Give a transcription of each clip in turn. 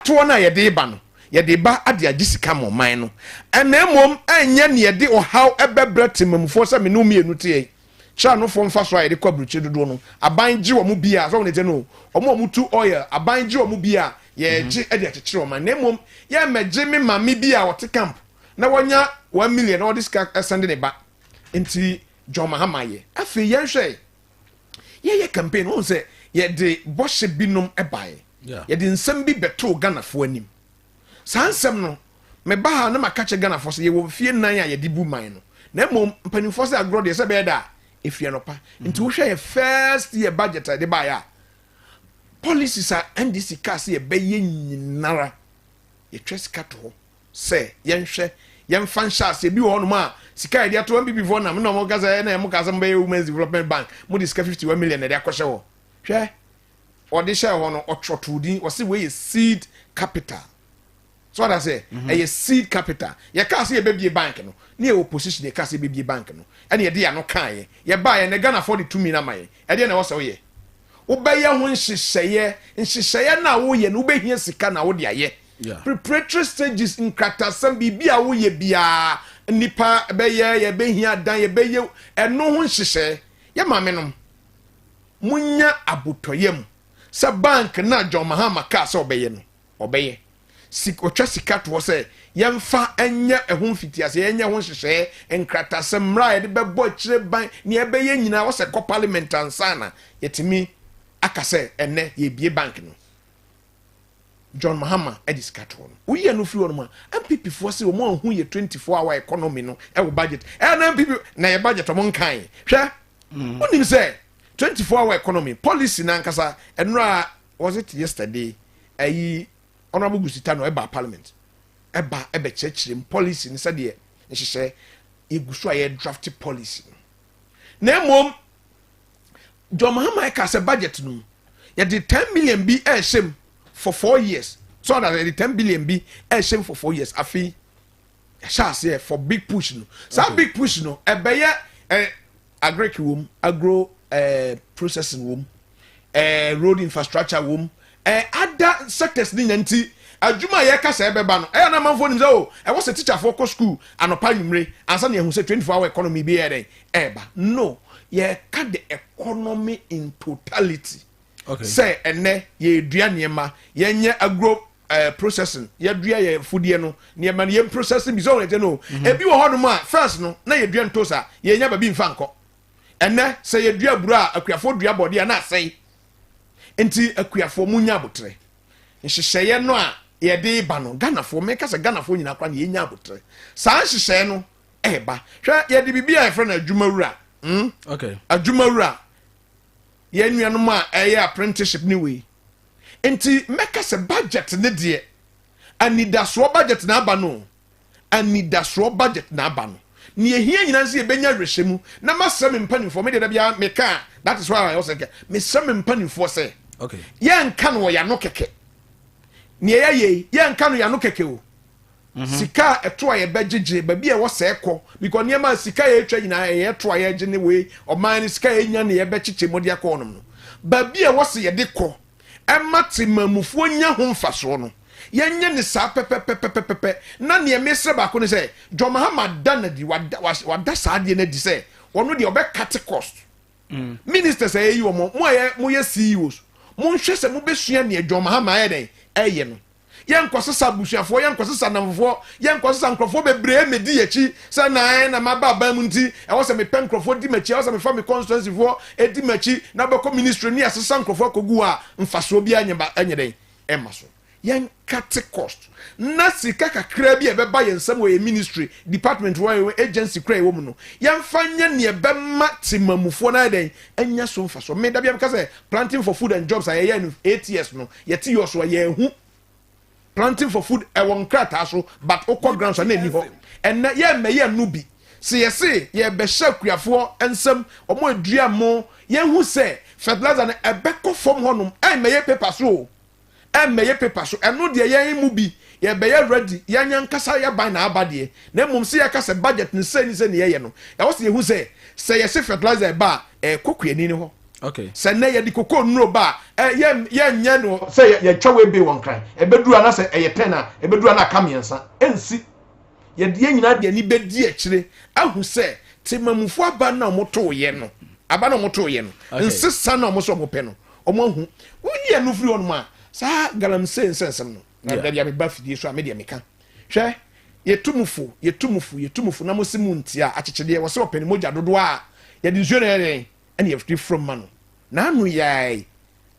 toɔ no a yɛde reba no, yɛde reba de agye sika ama ɔman no, na mmom ɛnyɛ nea ɛde ɔhaw bɛbrɛ temammufoɔ sɛ me ne wo mmienu teɛ yi. Kyerɛ anofoɔ mfasoɔ a yɛde kɔ aburokyire dodoɔ no, aban gye wɔn bi a, sɛ wɔn deɛ no, wɔn a wɔtu oil, aban gye wɔn bi a, yɛregye de akyekyere ɔman, na mmom yɛremmɛgye me maame bi a ɔte camp na wanya one million na ɔde sika sɛnde ne ba. Enti John Mahama yɛ. Afei yɛnhwɛ yɛyɛ campaign wɔn sɛ yɛde bɔhyɛ binom baeɛ yɛde nsɛm bi bɛtoo ghanafoɔ anim saa nsɛm no meba ha na maka kyɛ ghanafoɔ sɛ yɛwɔ mfie nan a yɛde bu man no na mmom mpanimfoɔ sɛ agorɔ deɛ sɛ bɛyɛ da a ɛfie no pa nti wohwɛ yɛ first year budget a yɛde baeɛ a policies a ndc kaa sɛ yɛbɛyɛ nyinara yɛtwa sika to hɔ sɛ yɛnhwɛ yɛmfa nhyɛ ase ebi wɔ hɔnom a sika a yɛde ato wɔn bibifoɔ nam na wɔn kasa ɛna wɔn kasa wɔn bɛyɛ women's development bank mo de sika fifty one million na ɛde akɔhyɛ hɔ hwɛ ɔde hyɛ hɔ no ɔtɔtɔ din ɔsi wei yɛ seed capital so ɔda sɛ mhm. ɛyɛ seed capital yɛ kaa sɛ yɛbɛbie bank no ne yɛ opposition yɛ kaa sɛ yɛbɛbie bank no ɛna yɛde yɛn ano kaa yɛ yɛ baa yɛ na ghana fɔ de tumi na ma yɛ ɛdeɛ na ɛwɔ sɛ ɔyɛ wobɛyɛ ho nhyehyɛeɛ nhyehyɛeɛ no a woyɛ no wobɛhia sika na wode ayɛ Preparatory stages nkratasɛm biribi a woyɛ biara nnipa bɛyɛ yɛbɛhia adan yɛbɛyɛ ɛno ho nhyehyɛe yɛ maame nom munya abotɔyam sɛ bank no a John Mahama kaa sɛ ɔbɛyɛ no ɔbɛyɛ sik ɔtwa sika to hɔ sɛ yɛmfa nyɛ ɛho mfitiase yɛnyɛ ho nhyehyɛe nkratasɛm mmara a yɛde bɛbɔ akyire ban nea ɛbɛyɛ nyinaa wɔsɛ kɔ parliament ansana yɛtumi aka sɛ ɛnɛ yɛbie bank no John Mahama de sika too no. Woyi ɛno firi hɔnom a, NPP foɔ se wɔn anhu yɛ 24 hour economy no wɔ budget. Ɛyɛ na NPP na yɛ budget wɔn nkae. Hwɛ, mm. wonim sɛ 24 hour economy policy n'ankasa ɛnora was it yesterday ɛyi honorable Gusita no ɛba parliament ɛba ɛbɛkyerɛkyerɛ mu policy no sɛdeɛ nhyehyɛ yɛgu so a yɛ draft policy no na mmom john mahama ɛka sɛ budget no mu yɛde ten million bi ɛrehyɛ mu for four years so ɔda yɛde ten billion bi ɛrehyɛ mu for four years afei ɛhyɛ aseɛ for big push no saa okay. big push no ɛbɛyɛ ɛ agric wɔm agro ɛ processing wɔm ɛ road infrastructure wɔm Ada circus no nya nti, adwuma a yɛka sɛ ɛbɛba no, ɛyɛ a na amanfoɔ nim sɛ oh, ɛwɔ sɛ tikyafoɔ kɔ sukuu anɔpa anwummere ansa na yɛahu sɛ 24 hour economy bi yɛ dɛn ɛreba. No, yɛreka the economy in totality. Okay. Sɛ ɛnnɛ yɛredua nneɛma, yɛnyɛ agro uh, processing, yɛdua yɛ fudeɛ no, nneɛma no yɛn processing bi sɛ ɔhun ɛkyɛ no. Mm-hmm. Ebi wɔ hɔnom a first no na yɛdua ntosa, yɛnya baabi mfa nkɔ. Ɛnnɛ sɛ yɛdua aburo a akuafoɔ dua bɔdeɛ a na asɛe. nti akuafoɔ mu nya abotrɛ nhyehyɛeɛ no a yɛde ba no ghanafoɔ meka sɛ ghanafoɔ nyinaa kora na yɛnya abotrɛ saa nhyehyɛeɛ no ɛba hwɛ yɛde biribi a yɛfrɛ no adwumawura hmm? okay. adwumawura yɛn nuanom a ɛyɛ apprenticeship ne wei nti mɛka sɛ budget ne deɛ anidasoɔ budget na aba no anidasoɔ budget na aba no. Nea ehia nyinaa ne sɛ yɛbɛnya awerɛhyɛmu na masrɛ me mpanimfoɔ, me deɛ da biara meka a, that is why I also get, mesrɛ me mpanimfoɔ sɛ Okay. yɛnka no wɔ yɛano kɛkɛ. Nea yɛayɛ yi, yɛnka no yɛano kɛkɛ o. Mhm. Sika a ɛto a yɛbɛgyegye, baabi a ɛwɔ sɛɛ kɔ, because nneɛma a sika a yɛretwa nyinaa ɛyɛ ɛto a yɛregye ne wei, ɔman no sika a yɛnya ne yɛbɛkyekyɛ mu de akɔ hɔnom no. Baabi a ɛwɔ sɛ yɛde kɔ, ɛma temanmufoɔ nya ho mfasoɔ no, yɛnyɛ no saa pɛpɛpɛpɛpɛpɛ. Na neɛ mesrɛ baako ne sɛ, John Mahama da no adi, wada, was- wada saa adeɛ no adi sɛ ɔno deɛ ɔbɛ cut cost. Ministers a yɛyi wɔn, mo a yɛ- moyɛ CEOs, monhwɛ sɛ mobɛsua neɛ John Mahama ayɛ dɛn ɛyɛ no. yɛnkɔsesa abusuafoɔ, yɛnkɔsesa nnamfofoɔ, yɛnkɔsesa nkurɔfoɔ bebree mmɛdi yɛn akyi sɛ na ɛn na maba aban mu nti ɛwɔ sɛ mepɛ nkurɔfoɔ di m'akyi, ɛwɔ sɛ mefa me constituencyfoɔ di m'akyi na wobɛkɔ ministry ne yɛasesa nkurɔfoɔ akɔgu hɔ a mfasoɔ biara nyɛ ba ɛnyɛ dɛn ɛma so yɛnkate cost na sika kakraa bi a ɛbɛba yɛn nsam wɔ yɛn ministry department wɔ yɛn agency kora ɛwɔ mu no yɛmfa nyɛ neɛ ɛbɛma temamufoɔ no ayɛ dɛn anya so mfasoɔ meda bia meka sɛ planting for food and jobs a yɛyɛ no eight years no Yɛte US a yɛnhu planting for food ɛwɔ nkrataa so but wokɔ ground so a na ɛni hɔ. Ɛnnɛ yɛmmɛyɛ no bi. Se yɛse yɛrebɛhyɛ akuafoɔ nsam ɔmo adua mo yɛnhu sɛ fertilizer no ɛbɛkɔ fam hɔnom ɛmmɛyɛ paper so o ɛmmɛyɛ paper so ɛno deɛ yɛn mu bi yɛbɛyɛ ready yɛn ankasa yɛban na aba deɛ na mmom se yɛka sɛ budget no sei ne sei ne yɛyɛ no ɛwɔ sɛ yɛhu sɛ sɛ yɛse fertilizer ɛba a ɛkɔ kuani no hɔ. okay sɛ nnɛ yɛde koko nnuro ba a yɛnyɛ no sɛ yɛtwa wei bee wɔ nkran ɛbɛduru ana sɛ ɛyɛ ten a ɛbɛduru ana aka mmiɛnsa ɛnsi yɛde yɛn nyinaa de ani bɛdi akyire ahu sɛ temamufo aba na wɔn too yɛ no aba na wɔn too yɛ no nsesa na wɔn sɛ wɔn pɛ no wɔn ahu woyi ɛno firi hɔnom a saa galamsey nsɛnsɛm no na dabi a meba fidie so a medeɛ meka hwɛ yɛtumufo yɛtumufo yɛtumufo na mo se mu ntia akyekyedeɛ wɔ sɛ ɔpɛ ne mogya dodoɔ a yɛde nsuo na yɛde ɛna yɛde fura mu ma no na ano yaayi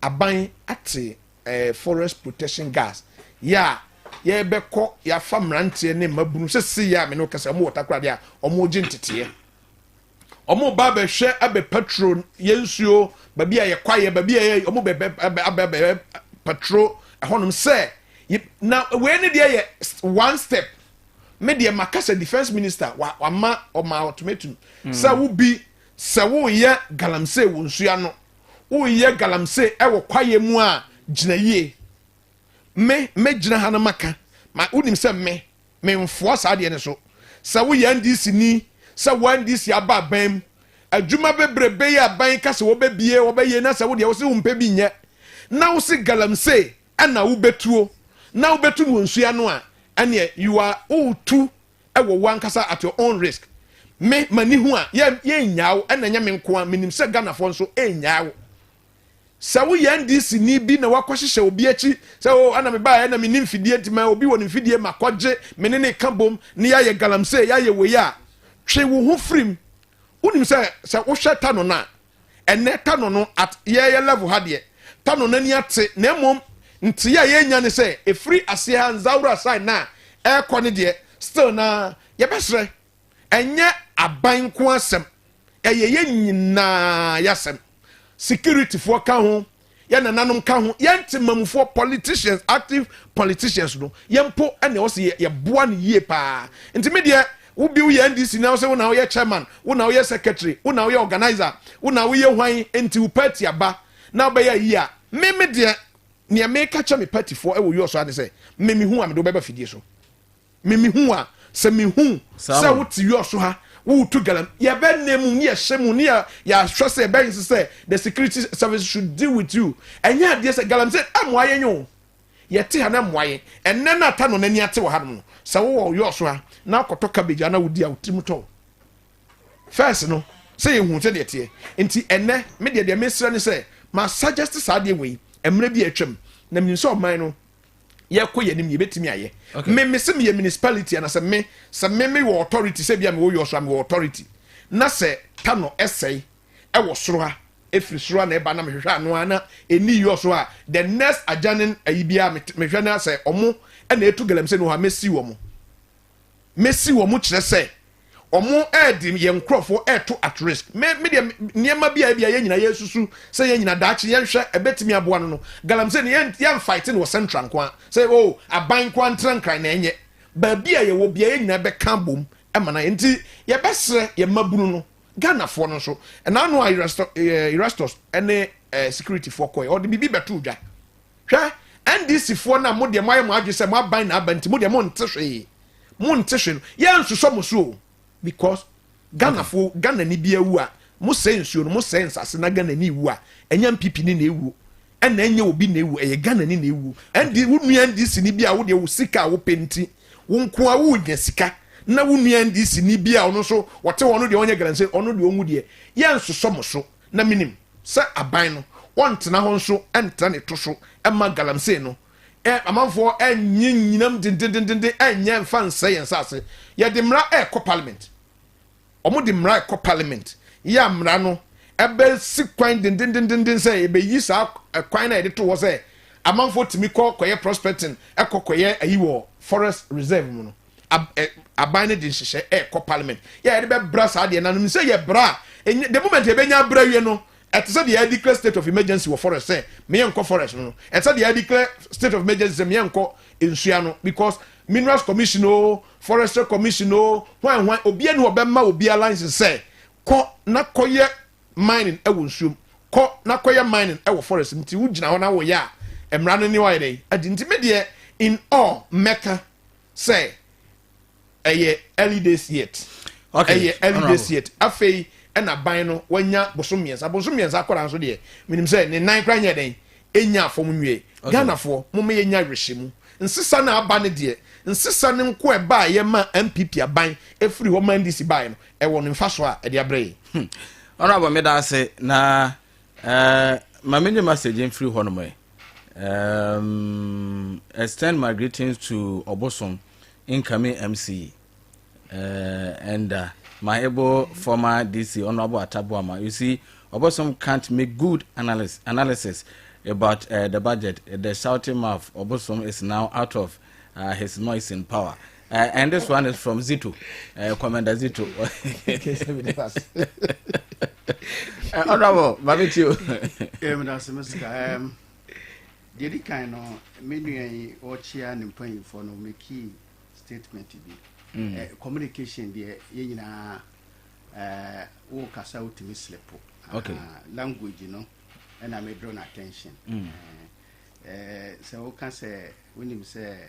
aban ate ɛɛ forest protection gas yɛ a yɛbɛkɔ yɛafa mmeranteɛ ne mmabunu sese yɛ a me ne wo kasa wɔn wɔ takoradi a wɔn regye nteteɛ wɔn ba abɛhwɛ abɛ patro yɛ nsuo baabi a yɛ kwaeɛ baabi a yɛ wɔn bɛ bɛ abɛ abɛ abɛ patro ɛhɔnom sɛ na wei ne deɛ yɛ one step me deɛ makasa defence minister wama ɔma ultimatum sɛ wobi Sɛ woreyɛ galamsey wɔ nsu ano, woreyɛ galamsey wɔ kwaeɛ mu a, gyina yie. Me, mɛgyina ha na maka, ma wonim sɛ me, memfoa saa adeɛ no so. Sɛ woyɛ NDC-ni, sɛ wo NDC aba aban mu, adwuma bebrebe yi a aban yi ka sɛ wɔbɛbie, wɔbɛyɛ na sɛ wo deɛ wo se wompɛ bi nyɛ, na wo se galamsey na wobɛtuo, na wobɛtu no wɔ nsuo ano a, ɛneɛ you are, woretu ɛwɔ wo ankasa at your own risk me mani ho a yɛ yɛnnyaa wo ɛna ɛnyɛ me nko a menim sɛ Ghanafoɔ nso ɛnnyaa wo sɛ woyɛ NDC ni bi na wakɔhyehyɛ obi akyi sɛ o oh, ɛna me baeɛ na menni mfidie nti ma obi wɔ ne mfidie ma kɔgye me ne ne ka bom ne yɛayɛ galamsey yɛayɛ wei a twe wo ho firim wonim sɛ sɛ wohwɛ ta no no a Ɛnnɛ Tano no at yɛɛyɛ level ha deɛ Tano nani ate na mmom ntee a yɛɛnya ne sɛ ɛfiri aseɛ ha Nzaura side no a ɛɛkɔ ne deɛ still no ara yɛbɛsrɛ ɛnyɛ aban nko asɛm ɛyɛ yɛn nyinaa yasɛm security foɔ ka ho. yɛn nananom ka ho yɛn te mamufoɔ politicians active politicians no yɛn mpo ɛna ɛwɔ sɛ yɛboa no yie paa nti me deɛ wo bi woyɛ ndc na sɛ wo na woyɛ chairman wo na woyɛ secretary wo na woyɛ organizer wo na woyɛ hwan nti wo party aba na wobɛyɛ yie a me me deɛ nea meka kyɛ me partyfoɔ ɛwɔ yɔsɔ ane sɛ me mehu a mede wobɛba fidie so me mehu wo a, sɛ mehu sɛ wote wiɔ so ha, woretu galam, yɛbɛnna mu ne yɛhyɛ mu ne yɛahwɛ sɛ yɛbɛyɛ sɛ the security service should deal with you. Ɛnyɛ adeɛ sɛ galamsey ɛmmoa yɛn o. Yɛte ha na ɛmmoa yɛn. Ɛnnɛ na ata no n'ani ate wɔ hanom no. Sɛ wowɔ wiɔ so ha na wokɔtɔ cabbage a na wodi a wo tirim tɔ wo. First no, sɛ yɛhu sɛ deɛ teɛ. Nti ɛnnɛ, me deɛ deɛ mesrɛ ne sɛ, ma suggest saa adeɛ wei mmerɛ bi a atwam. Na menim sɛ ɔman no yɛkɔ yɛn anim yɛbɛtumi ayɛ me me sɛ meyɛ municipality ana sɛ me sɛ me me wɔ authority sɛ bia mewɔ yɔ so a mewɔ authority na sɛ ta no ɛsɛe ɛwɔ soro ha ɛfiri soro a na ɛba na mehwehwɛ ano a na ɛni yɔ so a the next adjoining ayi biara mehwɛ no sɛ ɔmo ɛna ɛtu galamsɛ no hɔ a mɛsi wɔ mo mesi wɔn kyerɛ sɛ wɔde yɛn nkurɔfoɔ reto at risk. Me me deɛ nneɛma bi a ebi a yɛn nyinaa yɛresusu sɛ yɛn nyinaa daakye yɛnhwɛ ɛbɛtumi aboa no no galamsey no yɛn yɛn fight no wɔ central nko a sɛ o oh, aban nko a ntena nkran na ɛnyɛ baabi a yɛwɔ bia yɛn nyinaa bɛka abom ɛma na yɛn nti yɛbɛsrɛ yɛn mmabunu no ghanafoɔ no nso ɛnaano a erastus ɛne eh, securityfoɔ kɔɛ ɔde biribi bɛto dwa Hwɛ, NDC foɔ no a mo deɛ mo ayɛ mo adwene sɛ mo aban na aba nti mo deɛ mo nte hwee, mo nte hwee no, yɛn nsosɔ mo so o, because Ghana foɔ, Ghana ni bi awu a, mo sɛe nsuo no, mo sɛe nsase na Ghana ni wu a, ɛnyɛ NPP ni na ewuo, ɛna ɛnyɛ obi na ewuo, ɛyɛ Ghana ni na ewuo. ND, wo nua NDC ni bi a wo deɛ wo sika a wo pɛ nti, wo nko ara wo nya sika, na wo nua NDC ni bi a ɔno nso ɔte hɔ ɔno deɛ ɔnyɛ Ghana ni, ɔno deɛ ɔnwu deɛ, yɛn nsosɔ mo so. Na minim sɛ aban no, wɔntena hɔ nso ntra ne to so mma galamsey no. Ɛ, amanfoɔ nnye nnyinam dendendenden nnyɛ mfa nsɛe yɛn nsase. Yɛde mmara rekɔ parliament. Wɔde mmara rekɔ parliament. Yɛ a mmara no bɛsi kwan dendendenden sɛ yɛbɛyi saa ɛ, kwan no a yɛde to hɔ sɛ amanfoɔ tumi kɔ kɔyɛ prospecting, kɔ kɔyɛ ayi wɔ forest reserve mu no. ab, eh, aban no de nhyehyɛ ɛkɔ parliament yɛ yɛde bɛbra saa deɛ nanom sɛ yɛ bra enye the moment yɛbɛnya abra wie no ɛte sɛ deɛ declare state of emergency wɔ forest sɛ meyɛ nkɔ forest no no ɛte sɛ deɛ declare state of emergency sɛ meyɛ nkɔ nsua no because minerals commission o oh, forestry commission o oh, hwan hwan obiara ni ɔbɛma obiara license sɛ kɔ na kɔyɛ mining ɛwɔ nsuom kɔ na kɔyɛ mining ɛwɔ forest nti wo gyina hɔ na wo yɛ a mmara no ne wayɛ dɛ adi nti me deɛ in all mɛka sɛ ɛyɛ early days yet okay. ɛyɛ early days yet afei ɛna ban no wanya bosom mmiɛnsa bosom mmiɛnsa akɔra nso deɛ menim sɛ ne nan kora nyɛ dɛn ɛnya afɔm nwie okay. Ghanafoɔ moma yɛnya werɛhyɛ mu nsesa no aba no deɛ nsesa no nko ɛbaeɛ ma MPP aban ɛfiri hɔ ma NDC baeɛ no ɛwɔ no mfasoɔ a ɛde abrɛ yɛn. Hmm. Honorable meda ase na eh, ma menye message mfiri hɔ nom ɛ. Um, extend my greetings to Obosom incoming MC uh, eh, and uh, my able former DC Honorable Atabuama. You see, Obosom can't make good analysis, analysis about uh, the budget. The shouting mouth Obosom is now out of uh, his noise in power. Uh, and this one is from Zito, uh, Commander Zito. uh, honorable, Babitio. Um, that's a mistake. Um, the other kind of menu I watch here and paying for no make key statement to be mm. uh, communication. The you know, uh, wo kasa wotumi slip uh, okay. uh, language no ɛna medrɔ no attention mm. uh, uh, sɛ woka sɛ wonim sɛ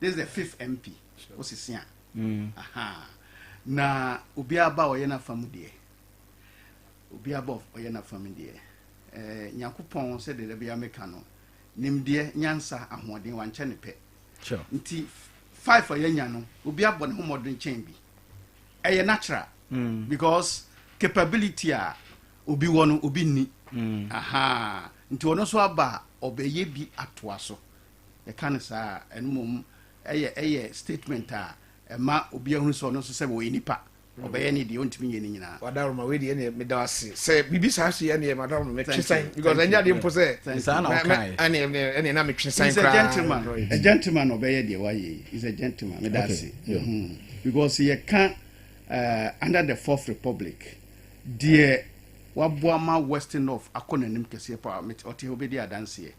this is the fifth mp wosese a mm. aha na obiara ba ɔyɛ n'afa mu deɛ obiara ba ɔyɛ n'afa mu deɛ ɛɛ eh, nyakopɔn sɛ deda bi ameka no nimdeɛ nyansa ahoɔden wankyɛ ne pɛ nti five a yɛnya no obi abɔ ne ho mmɔden kyɛn bi ɛyɛ natural mm. because capability a obi wɔ no obi nni mm. aha nti ɔno nso aba a ɔbɛyɛ bi atoa so yɛka no saa a, ɛno mmom ɛyɛ ɛyɛ statement a ɛma obiara hunu sɛ ɔno nso sɛ ɔyɛ nipa, mm. ɔbɛyɛ ne deɛ ɔntumi nyɛ ne nyinaa. wadaroma wei deɛ ɛneɛ meda ase sɛ biribi saa so yɛ neɛ madaroma metwe san because ɛnyɛ adeɛ mpo sɛ ɛneɛ na metwe san koraa a gentleman ɔbɛyɛ deɛ wayɛ yi is a gentleman meda ase mm-hmm. because yɛka uh, under the fourth republic deɛ waboa ma western north akɔ n'anim kɛseɛ paa ɔte hɔ bɛdi adanseɛ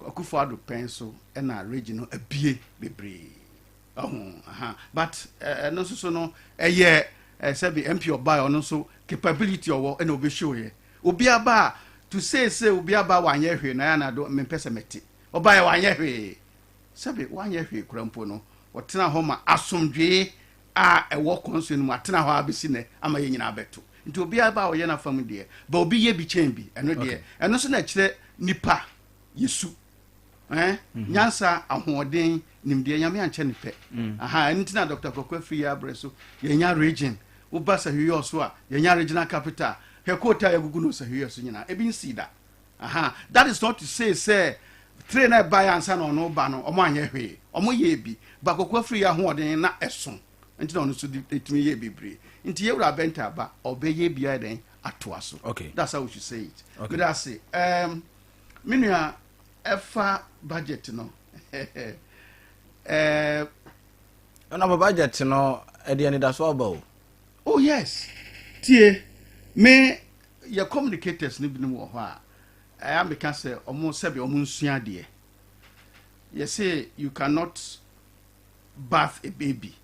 Akufo Addo pɛn so na regi no abue bebree ɔho aha but ɛno nso so no ɛyɛ sɛbi MP ɔbaa ɔno nso capability ɔwɔ ɛna obi show yɛ obi aba a to say sɛ obi aba wanyɛ hwee na yana do mempɛ sɛ mɛte ɔbaa yɛ wanyɛ hwee sɛbi wanyɛ hwee kura mpo no ɔtena hɔ ma asomdwee a ɛwɔ kɔnsɔn no mu atena hɔ ara bɛsi nnɛ ama yɛn nyinaa abɛto. Nti obiara ba a ɔyɛ n'afa mu deɛ, but obi yɛ bi kyɛn bi, ɛno deɛ, ɛno nso na ɛkyerɛ nnipa yɛ su, eh, nyansa, ahoɔden, nimdeɛ, Nyame ankyɛ no pɛ, aha, ɛno nti na Doctor Kɔkɔ afiri yɛ abrɛ so, yɛnya region, woba Sahwiɔso a, yɛnya regional capital, hwɛ kootaa yɛagugu no wɔ Sahwiɔso nyinaa, ebi nsii da. Ahaa that is not to say sɛ tray no a ɛbaeɛ ansa na ɔno reba no wɔanyɛ hwee. Wɔyɛɛ bi but Koko Afriyie ahoɔden na ɛso nti na ɔno nso de tumi yɛɛ bebree. Nti yɛn wura Bɛnta aba ɔbɛyɛ bi ayɛ dɛn atoa so. Okay. That's how we should say it. Okay. Meda ase. Um, me nua ɛfa budget no. Eh, Ɛna ba budget no ɛde anidaso aba o. Oh yes tie me yɛ communicators no binom wɔ hɔ a ɛyɛ a meka sɛ ɔmo sɛbi ɔmo nsua adeɛ yɛ se you cannot bath a baby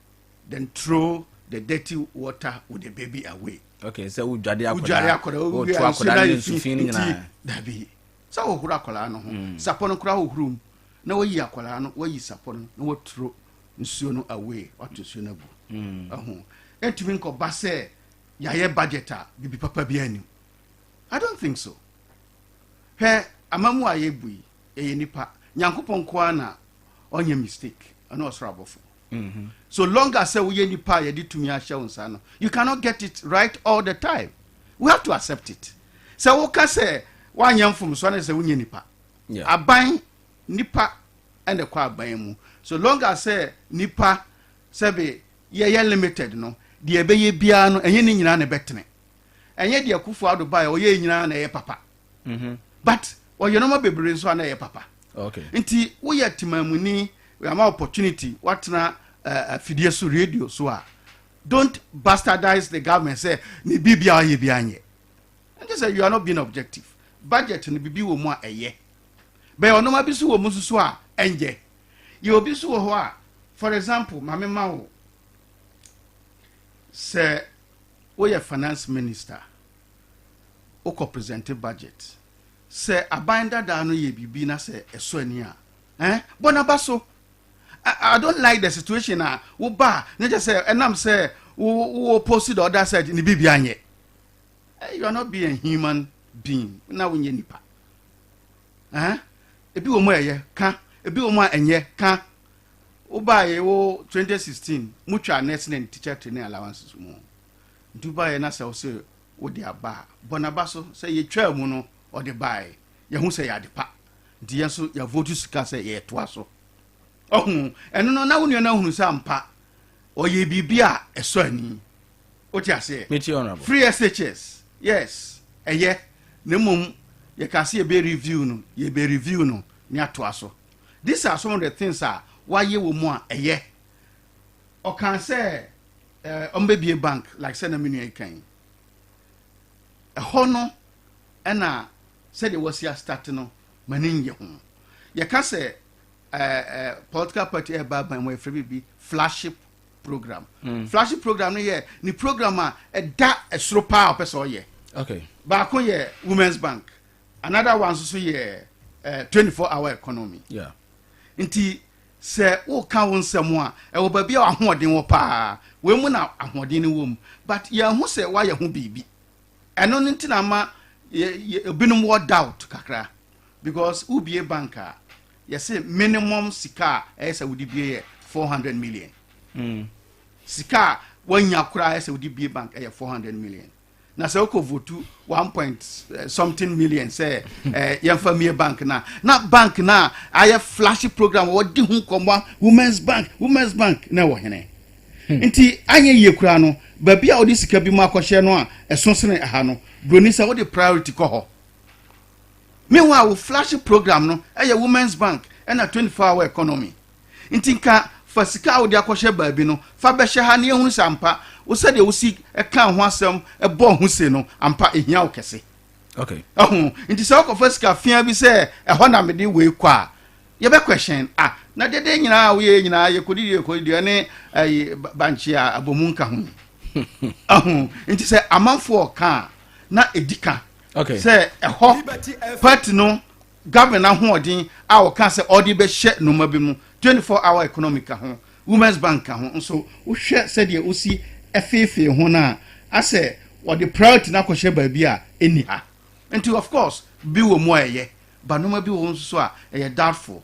then throw the dirty water with the baby away okay sɛ wodwade akɔda wodwade akɔda ne nsufi no nyinaa dabi sɛ wohoro akɔda no ho mm. sapɔ no koraa wohoro mu na wayi akɔda no wayi sapɔ no na waturo nsuo no away wato nsuo no agu ɛho ɛntumi nkɔba sɛ yɛayɛ budget a biribi papa bi anim i don't think so hwɛ amamu a yɛbu yi ɛyɛ nipa nyankopɔn nkoa na ɔnyɛ mistake ɛne ɔsoro abɔfo mm-hmm. so long as sɛ woyɛ nipa a yɛde tumi ahyɛ wo nsa no you cannot get it right all the time we have to accept it sɛ woka sɛ woanyɛ mfomsoɔ ne sɛ wonyɛ nipa aban nipa ɛna ɛkɔ aban mu so long as sɛ nipa sɛbe yɛyɛ limited no deɛ ɛbɛyɛ biara no ɛnyɛ ne nyinaa na ɛbɛtene ɛnyɛ deɛ kufu ado baeɛ ɔyɛ nyinaa na ɛyɛ papa mhm. but ɔyɛ nɔma bebree nso a na ɛyɛ papa nti woyɛ temamuni ama opportunity watena afidie eh, eh, so radio so a don't bastardize the government sɛ ne biribia ɔyɛ bia nyɛ ɛnkyɛ sɛ you are not being objective budget no biribi wɔ mu a ɛyɛ bɛyɛ ɔnoma bi so wɔ mu nso a ɛnyɛ yɛ obi so wɔ hɔ a for example ma me ma wo sɛ woyɛ finance minister wokɔ present budget sɛ aban dadaa no yɛ biribi na sɛ ɛsɔ ani a eh, bɔ n'aba so I, don't like the situation a woba a na kyɛ sɛ ɛnam sɛ wo post the other side ne biribi anyɛ Hey, you are not being a human being. Na wonyɛ nipa. Eh? Ebi wɔ mu a ɛyɛ ka, ebi wɔ mu a ɛnyɛ ka. Wobaeɛ wo 2016 motwa nurse ne teacher training allowances mu. Nti wobaeɛ na sɛ wo se wode aba a bɔ n'aba so sɛ yɛtwaa mu no ɔde baeɛ yɛho sɛ yɛ ade pa nti yɛn nso yɛavoto sika sɛ yɛtoa so ɔho ɛno no na wo nua no ahunu sɛ ampa ɔyɛ biribi a ɛsɔ ani o ti aseɛ. mi ti honourable. free SHS yes ɛyɛ na mmom yɛ ka se yɛ bɛ review no yɛ bɛ review no ne atoa so these are some of the things a wayɛ wɔ mu a ɛyɛ ɔkan sɛ ɛɛ ɔmo bɛ bie bank like sɛ na mi nua yi kan yi ɛhɔ no ɛna sɛdeɛ wɔsi asitati no ma ne nyɛ ho yɛ ka sɛ ɛɛ ɛɛ political party ɛɛba aban mu ɛfɛ bibi flagship program mm. flagship program no yɛ ne program a ɛda ɛsoro paa ɔpɛ sɛ ɔyɛ okay. baako yɛ women's bank another one nso so yɛ uh, 24 hour economy yeah. nti sɛ woka wo nsɛm a ɛwɔ baabi a ahoɔden wɔ paa wei mu na ahoɔden no wɔ mu but yɛahu sɛ woayɛ ho biribi ɛno no nti na ma ebinom wɔ doubt kakra because wobie bank a yɛse minimum sika a ɛyɛ sɛ wode bie yɛ 400 million mm. sika a wanya koraa ɛyɛ sɛ wode bie bank ɛyɛ 400 million na sɛ wokɔ votu 1 point eh, something million sɛ eh, yɛmfa mie bank no na bank no a ayɛ flash program wɔde ho nkɔmmɔ women's bank women's bank na ɛwɔ hene hmm. nti anyɛ yie koraa no baabi a wode sika bi mu akɔhyɛ no a ɛso sene ɛha no buroni sɛ wode priority kɔ hɔ Meanwhile wo flashy program no yɛ women's bank na twenty four hour economy. Nti nka fa sika a wode akɔhyɛ baabi no fa bɛhyɛ ha na yɛhunu sɛ ampa wo sɛdeɛ wosi ka ho asɛm bɔ ho se no ampa ehia wo kɛse. Okay. Ɛho nti sɛ wokɔfa sika fia bi sɛ ɛhɔ na mede wei kɔ a yɛbɛ question a na dede nyinaa woyɛ nyinaa yɛkɔdidi yɛkɔdidi ɛne ɛyi bankye a abɔmu nka ho. Ɛho nti sɛ amanfoɔ ka a na ɛdi ka. okay. sɛ ɛhɔ party no government ahoɔden a wɔka sɛ ɔde bɛhyɛ nnoɔma bi mu 24 hour economic ka ho women's bank ka ho nso wohwɛ sɛdeɛ wosi ɛfeefee ho no a asɛ wɔde priority no akɔhyɛ baabi a ɛnni ha nti of course bi wɔ mu a ɛyɛ ba nnoɔma bi wɔ nso so a ɛyɛ doubtful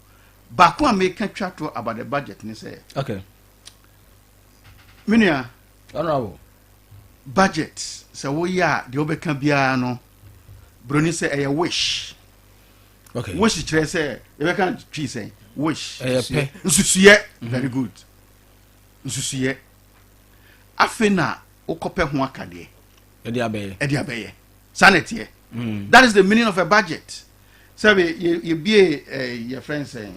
baako a meka twa to about the budget ne sɛ okay. menua Honourable, budget sɛ woyɛ a deɛ wobɛka biara no buroni sɛ ɛyɛ wish okay. wish kyerɛ sɛ yɛbɛka twi sɛ wish nsusuyɛ mhm. very good nsusuyɛ afei na wokɔpɛ ho akadeɛ ɛde abɛyɛ ɛde abɛyɛ saa na ɛteɛ mm. that is the meaning of a budget sɛbi yɛbie eh, yɛfrɛ n sɛ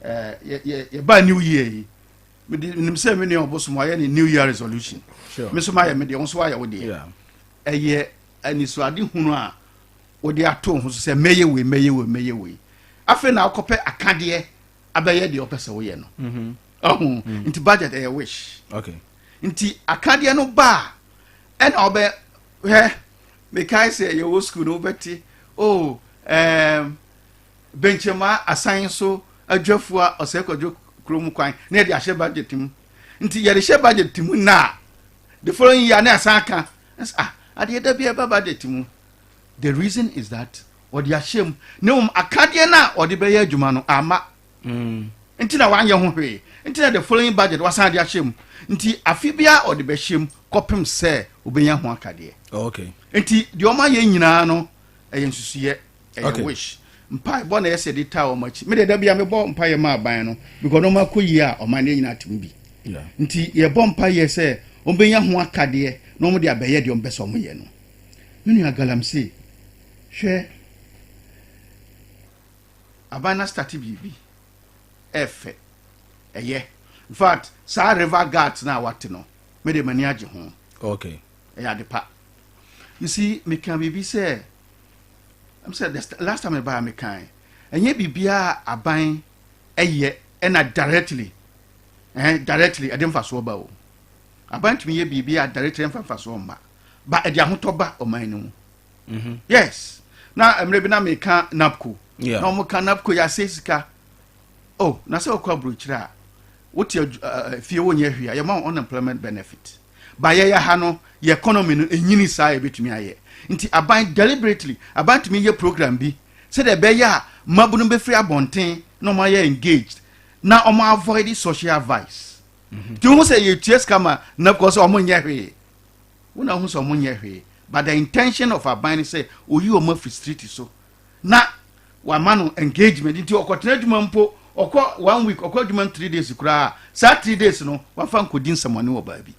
eh, yɛbaa new year yi mede nim sɛ me nua ɔbosom ayɛ ne new year resolution me so mayɛ me deɛ wo so wayɛ wo deɛ ɛyɛ anisoade hunu a wode ato ho so sɛ mɛyɛ wei mɛyɛ wei mɛyɛ wei afei na wokɔpɛ akadeɛ abɛyɛ deɛ ɔpɛ sɛ woyɛ no mhm. ɔho mhm. nti budget ɛyɛ wish nti akadeɛ no ba a ɛna ɔbɛ hɛ mekae sɛ yɛwɔ sukuu no wobɛte o oh, um, bɛnkyɛmu asan so adwafua a ɔsɛe kwadwo kuro mu kwan na yɛde ahyɛ budget mu nti yɛde hyɛ budget mu na the following year na asan aka ah adeɛ da bi ɛba budget mu the reason is that ɔde ahyɛ mu na mmom akadeɛ no a ɔde bɛyɛ adwuma no ama mm. nti na wanyɛ ho hwee nti na the following budget wasan de ahyɛ mu nti afe biara ɔde bɛhyɛ mu kɔpem sɛ obɛnya ho akadeɛ okay. nti deɛ ɔma yɛ nyinaa no ɛyɛ nsusuyɛ ɛyɛ wish mpae bɔ na ɛyɛ sɛ de taa wɔn akyi me deɛ da bia mebɔ mpaeɛ ma aban no because wɔn akɔ yie a ɔman no nyinaa tem bi nti yɛbɔ mpaeɛ sɛ wɔn bɛnya ho akadeɛ na wɔn de abɛyɛ deɛ wɔn bɛ sɛ wɔn yɛ no me nua galamsey hwɛ aban na start biribi ɛfɛ ɛyɛ in fact saa river guards na wate no me de m'ani agye ho okay ɛyɛ adepa you see meka biribi sɛ m sɛ the st- last time ɛbaa mekae ɛnyɛ biribiaa aban ɛyɛ ɛna directly eh, directly ɛde mfasoɔ ba o aban tumi yɛ biribi a directly ɛmfa mfasoɔ mma ba ɛde ahotɔ ba ɔman no mu mhm. yes na mmerɛ bi na meka napco yeah. na ɔmoka napco yɛ asɛ sika oh na sɛ wokɔ aburokyerɛ a wote uh, fie wonyɛ hwee a yɛma wo unemployment benefit But yɛyɛ ha no yɛ economy no enyini saa yɛbɛtumi ayɛ. Nti aban deliberately aban tumi yɛ program bi sɛdeɛ ɛbɛyɛ a mmabunu bɛfiri abɔnten na wɔn ayɛ engaged na wɔn avoid social vice. Mhm. Nti wohu sɛ yɛtua sika ma NABCO sɛ wɔn nyɛ hwee. Wona wohu sɛ wɔn nyɛ hwee. But the intention of aban ne sɛ oyi wɔn afiri street so na wama no engagement nti ɔkɔtena adwuma mpo ɔkɔ one week ɔkɔ adwuma three days koraa saa three days no wafa nkɔdi nsɛmɔne wɔ baabi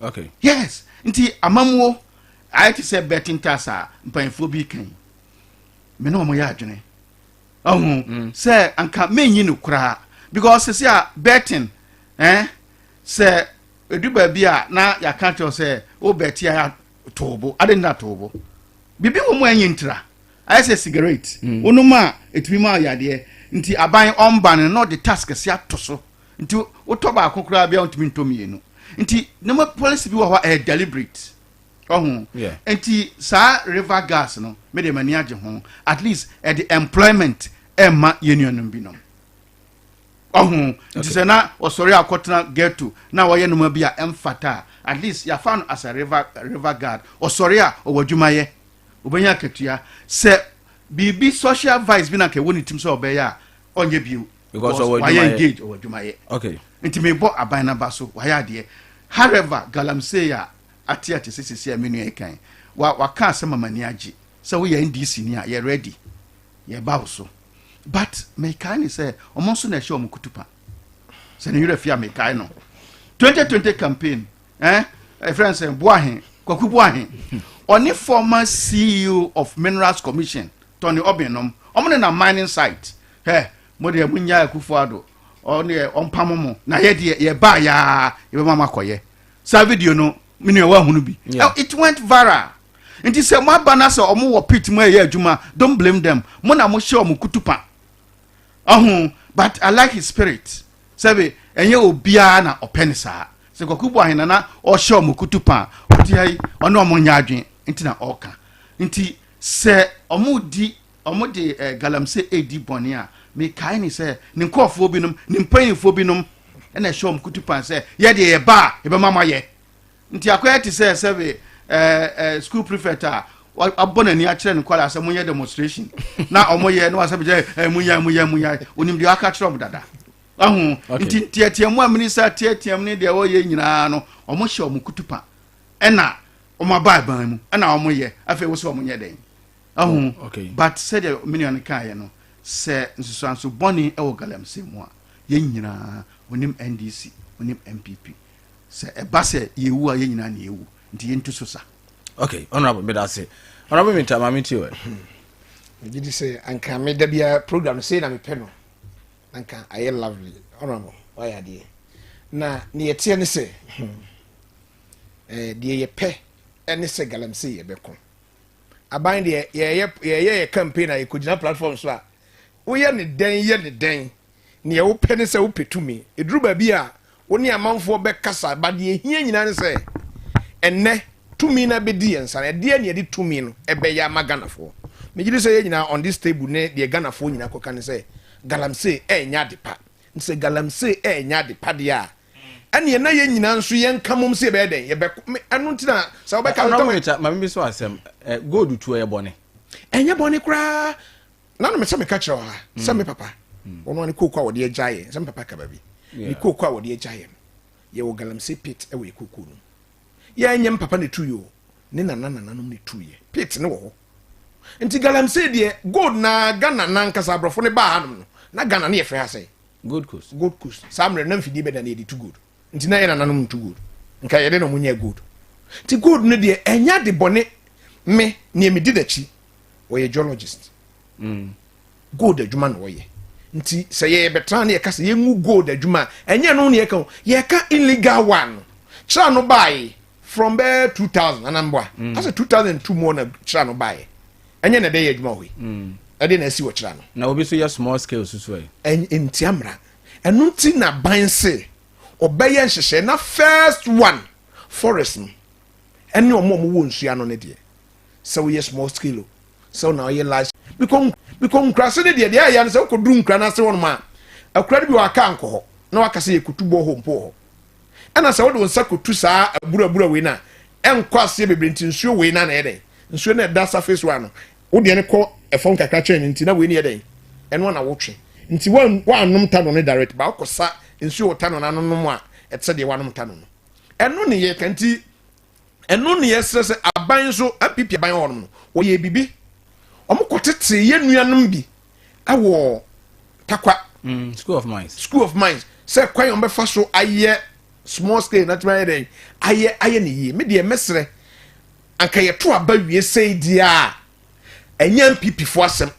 okay. yes nti amamuo ayɛ te sɛ bɛte ntas a mpanyinfoɔ bi kan me ne wɔn yɛ adwene ɔho mm. sɛ anka menyi no koraa because sisi a betting eh, sɛ edu baabi a na yɛaka kyerɛw sɛ wo bɛte a too bo ade na too bo biribi wɔ mu a ɛnyɛ ntira ayɛ sɛ sigaret hmm. wonom a ɛtumi ma yadeɛ nti aban ɔmba no na ɔde tax kɛse ato so nti wotɔ baako koraa bia wontumi ntɔ mmienu nti nneɛma policy bi wɔ hɔ a ɛyɛ deliberate ɔho nti saa river gas no mede m'ani agye ho at least ɛde employment ɛma yɛn nuanom binom ɔho nti sɛ na ɔsɔre akɔtena ghetto na wɔyɛ noma bi a ɛmfata a at least yɛafa no as a river, river guard ɔsɔre a ɔwɔ adwuma yɛ ɔbɛnya akatua sɛ biribi social vice bi na nka ɛwɔ ne tim sɛ ɔbɛyɛ a ɔnyɛ bio because wayɛ engage ɔwɔ adwuma yɛ okay. nti mebɔ aban no aba so wayɛ adeɛ however galamsey a ate ate sɛ sisi a me nua kan waka asɛm ama ni agye sɛ woyɛ ndc ni a yɛ ready yɛba wo so but mekae ne sɛ ɔmo nso na ɛhyɛ ɔmo kutupa sɛ ne werɛ fi a mekae no 2020 campaign eh, ɛfrɛ sɛ boahe kwaku boahe ɔne former ceo of minerals commission tɔne ɔben nom ɔmo ne na mining site hɛ mo deɛ mo nya akufo ado ɔne ɔmpamo mo na yɛ deɛ yɛbaa yaa yɛbɛma mo akɔyɛ saa video no me nua wahunu bi yeah. it went viral nti sɛ mo aba na sɛ ɔmo wɔ pit mu ɛyɛ adwuma don't blame them mo na mo hyɛ ɔmo kutupa ɔho but i like his spirit sɛbi ɛnyɛ obiara na ɔpɛ ne saa sɛ kɔkɔ bu ahena na ɔhyɛ ɔmo kutupa ɔte ha yi ɔne ɔmo nyɛ adwene nti na ɔka nti sɛ ɔmo di wɔde galamsey di bɔne a, mekae ne sɛ ne nkurɔfoɔ binom, ne mpanyinfoɔ binom na ɛhyɛ wɔn kutupan sɛ yɛ deɛ yɛba a yɛbɛma mo ayɛ. Nti akɔyɛ te sɛ sɛbe ɛɛ school prefect a abɔ n'ani akyerɛ ne nkwadaa sɛ monyɛ demonstration na wɔyɛ na wasɛ bɛgyɛ ɛɛ munya munya munya onim deɛ aka kyerɛ wɔn dada. Ahu nti nteateamu a minisa teateam ne deɛ wɔyɛ nyinaa no wɔhyɛ wɔn kutupan ɛna wɔn aba aban mu ɛna wɔyɛ afei wɔsɛ wɔn nyɛ dɛn. ahu oh, okay. but sɛdeɛ me nua no kaeɛ no sɛ nsusuanso bɔne wɔ galamsey mu a yɛn nyinaa onim ndc onim npp sɛ ɛba sɛ yɛwu a yɛn nyinaa ne yɛwu nti yɛntu so sa okay honorable meda ase honorable mita maame ti wɛ megye di sɛ anka meda biara program no sei na mepɛ no anka ayɛ lovely honorable wayɛ adeɛ na ne yɛteɛ ne sɛ hmm, eh, deɛ yɛpɛ ne sɛ galamsey yɛbɛko aban deɛ yɛyɛ yɛyɛ yɛ campaign a yɛkɔgyina platform so a woyɛ ne dɛn yɛ ne dɛn neɛ wopɛ ne sɛ wopɛ tumi ɛduru baabi a wo ne amanfoɔ bɛkasa ba deɛ ɛhia nyinaa ne sɛ ɛnnɛ tumi no abɛdi yɛn nsa no ɛdeɛ ne ɛde tumi no ɛbɛyɛ ama ghanafoɔ megye di sɛ yɛ nyinaa on this table ne deɛ ghanafoɔ nyinaa kɔka ne sɛ galamsey ɛnyɛ ade pa nti sɛ galamsey ɛnyɛ ade pa deɛ a ɛneɛ na yɛn nyinaa nso yɛn nka mom sɛ yɛbɛyɛ dɛn yɛbɛko me ɛno nti na sɛ wobɛka no tɔwɛ ma me bi so asɛm gold tuo yɛ bɔne ɛnyɛ bɔne koraa na no mesɛ meka kyerɛ ha sɛ mm. me papa mm. ɔno ane kooko a wɔde agya yɛ sɛ me papa kaba bi ne kooko a wɔde agya yɛ no yɛwɔ galamsey pit ɛwɔ yɛ kooko no yɛnyɛ me papa ne tu yɛ ne nana nananom ne tu yɛ pit ne wɔ hɔ nti galamsey deɛ gold na ghana nankasa aborɔfo ne baa hanom no na ghana ne yɛfrɛ ha sɛ gold coast gold coast saa mmerɛ na mfidie bɛda na yɛde tu gold nti na yɛ nananom ntu gold nka yɛde na ɔmo nyɛ gold nti gold no deɛ ɛnya de bɔne me nea medi n'akyi wɔyɛ geologist mm. gold adwuma na wɔyɛ nti sɛ yɛbɛtena ne yɛka sɛ yɛngu gold adwuma a ɛnyɛ no ne yɛka o yɛka illegal one no kyerɛ no bae from bɛɛ two thousand nana mboa mm. asɛ two thousand two mu ɔna kyerɛ no baayɛ ɛnyɛ na ɛdɛ yɛ adwuma hɔ yi mm. ɛde na ɛsi wɔ kyerɛ no. na obi so yɛ small scale soso ɛ. ɛn ntia mra ɛnu ti na ban se ɔbɛyɛ nhyehyɛ na first one forest no ɛne ɔmo ɔmo wɔ nsuo ano ne deɛ sɛ woyɛ small scale o sɛ ɔna ɔyɛ large bikɔ bikɔ nkurase ne deɛ deɛ ɛyɛ no sɛ wokɔ duru nkura n'ase wɔn mu a akura no bi wɔ aka nkɔ hɔ na wakasa yɛ kutu bɔ hɔ mpo wɔ hɔ. ɛna sɛ wode wo nsa kɔtu saa aburabura wei no a ɛnkɔ aseɛ bebree nti nsuo wei na na ɛyɛ dɛn nsuo no ɛda surface wa no wodeɛ no kɔ ɛfam kakra kyɛn no nti na wei no yɛ dɛn ɛno ana wotwe nti woanom tano no direct ba wokɔsa nsuo wɔ tano no ano nom a ɛte sɛ deɛ woanom tano no ɛno ne yɛka nti Ɛno na yɛsrɛ sɛ aban nso, NPP aban wɔ hɔnom no, wɔyɛɛ biribi. Wɔkɔtetee yɛn nuanom bi wɔ Takwa. Mm, school of Mines. School of Mines. Sɛ kwan a wɔbɛfa so ayɛ small scale na tumi ayɛ dɛn ayɛ ayɛ ne yie. Me deɛ mɛsrɛ anka yɛto aba wie sɛi deɛ a ɛnyɛ NPP foɔ asɛm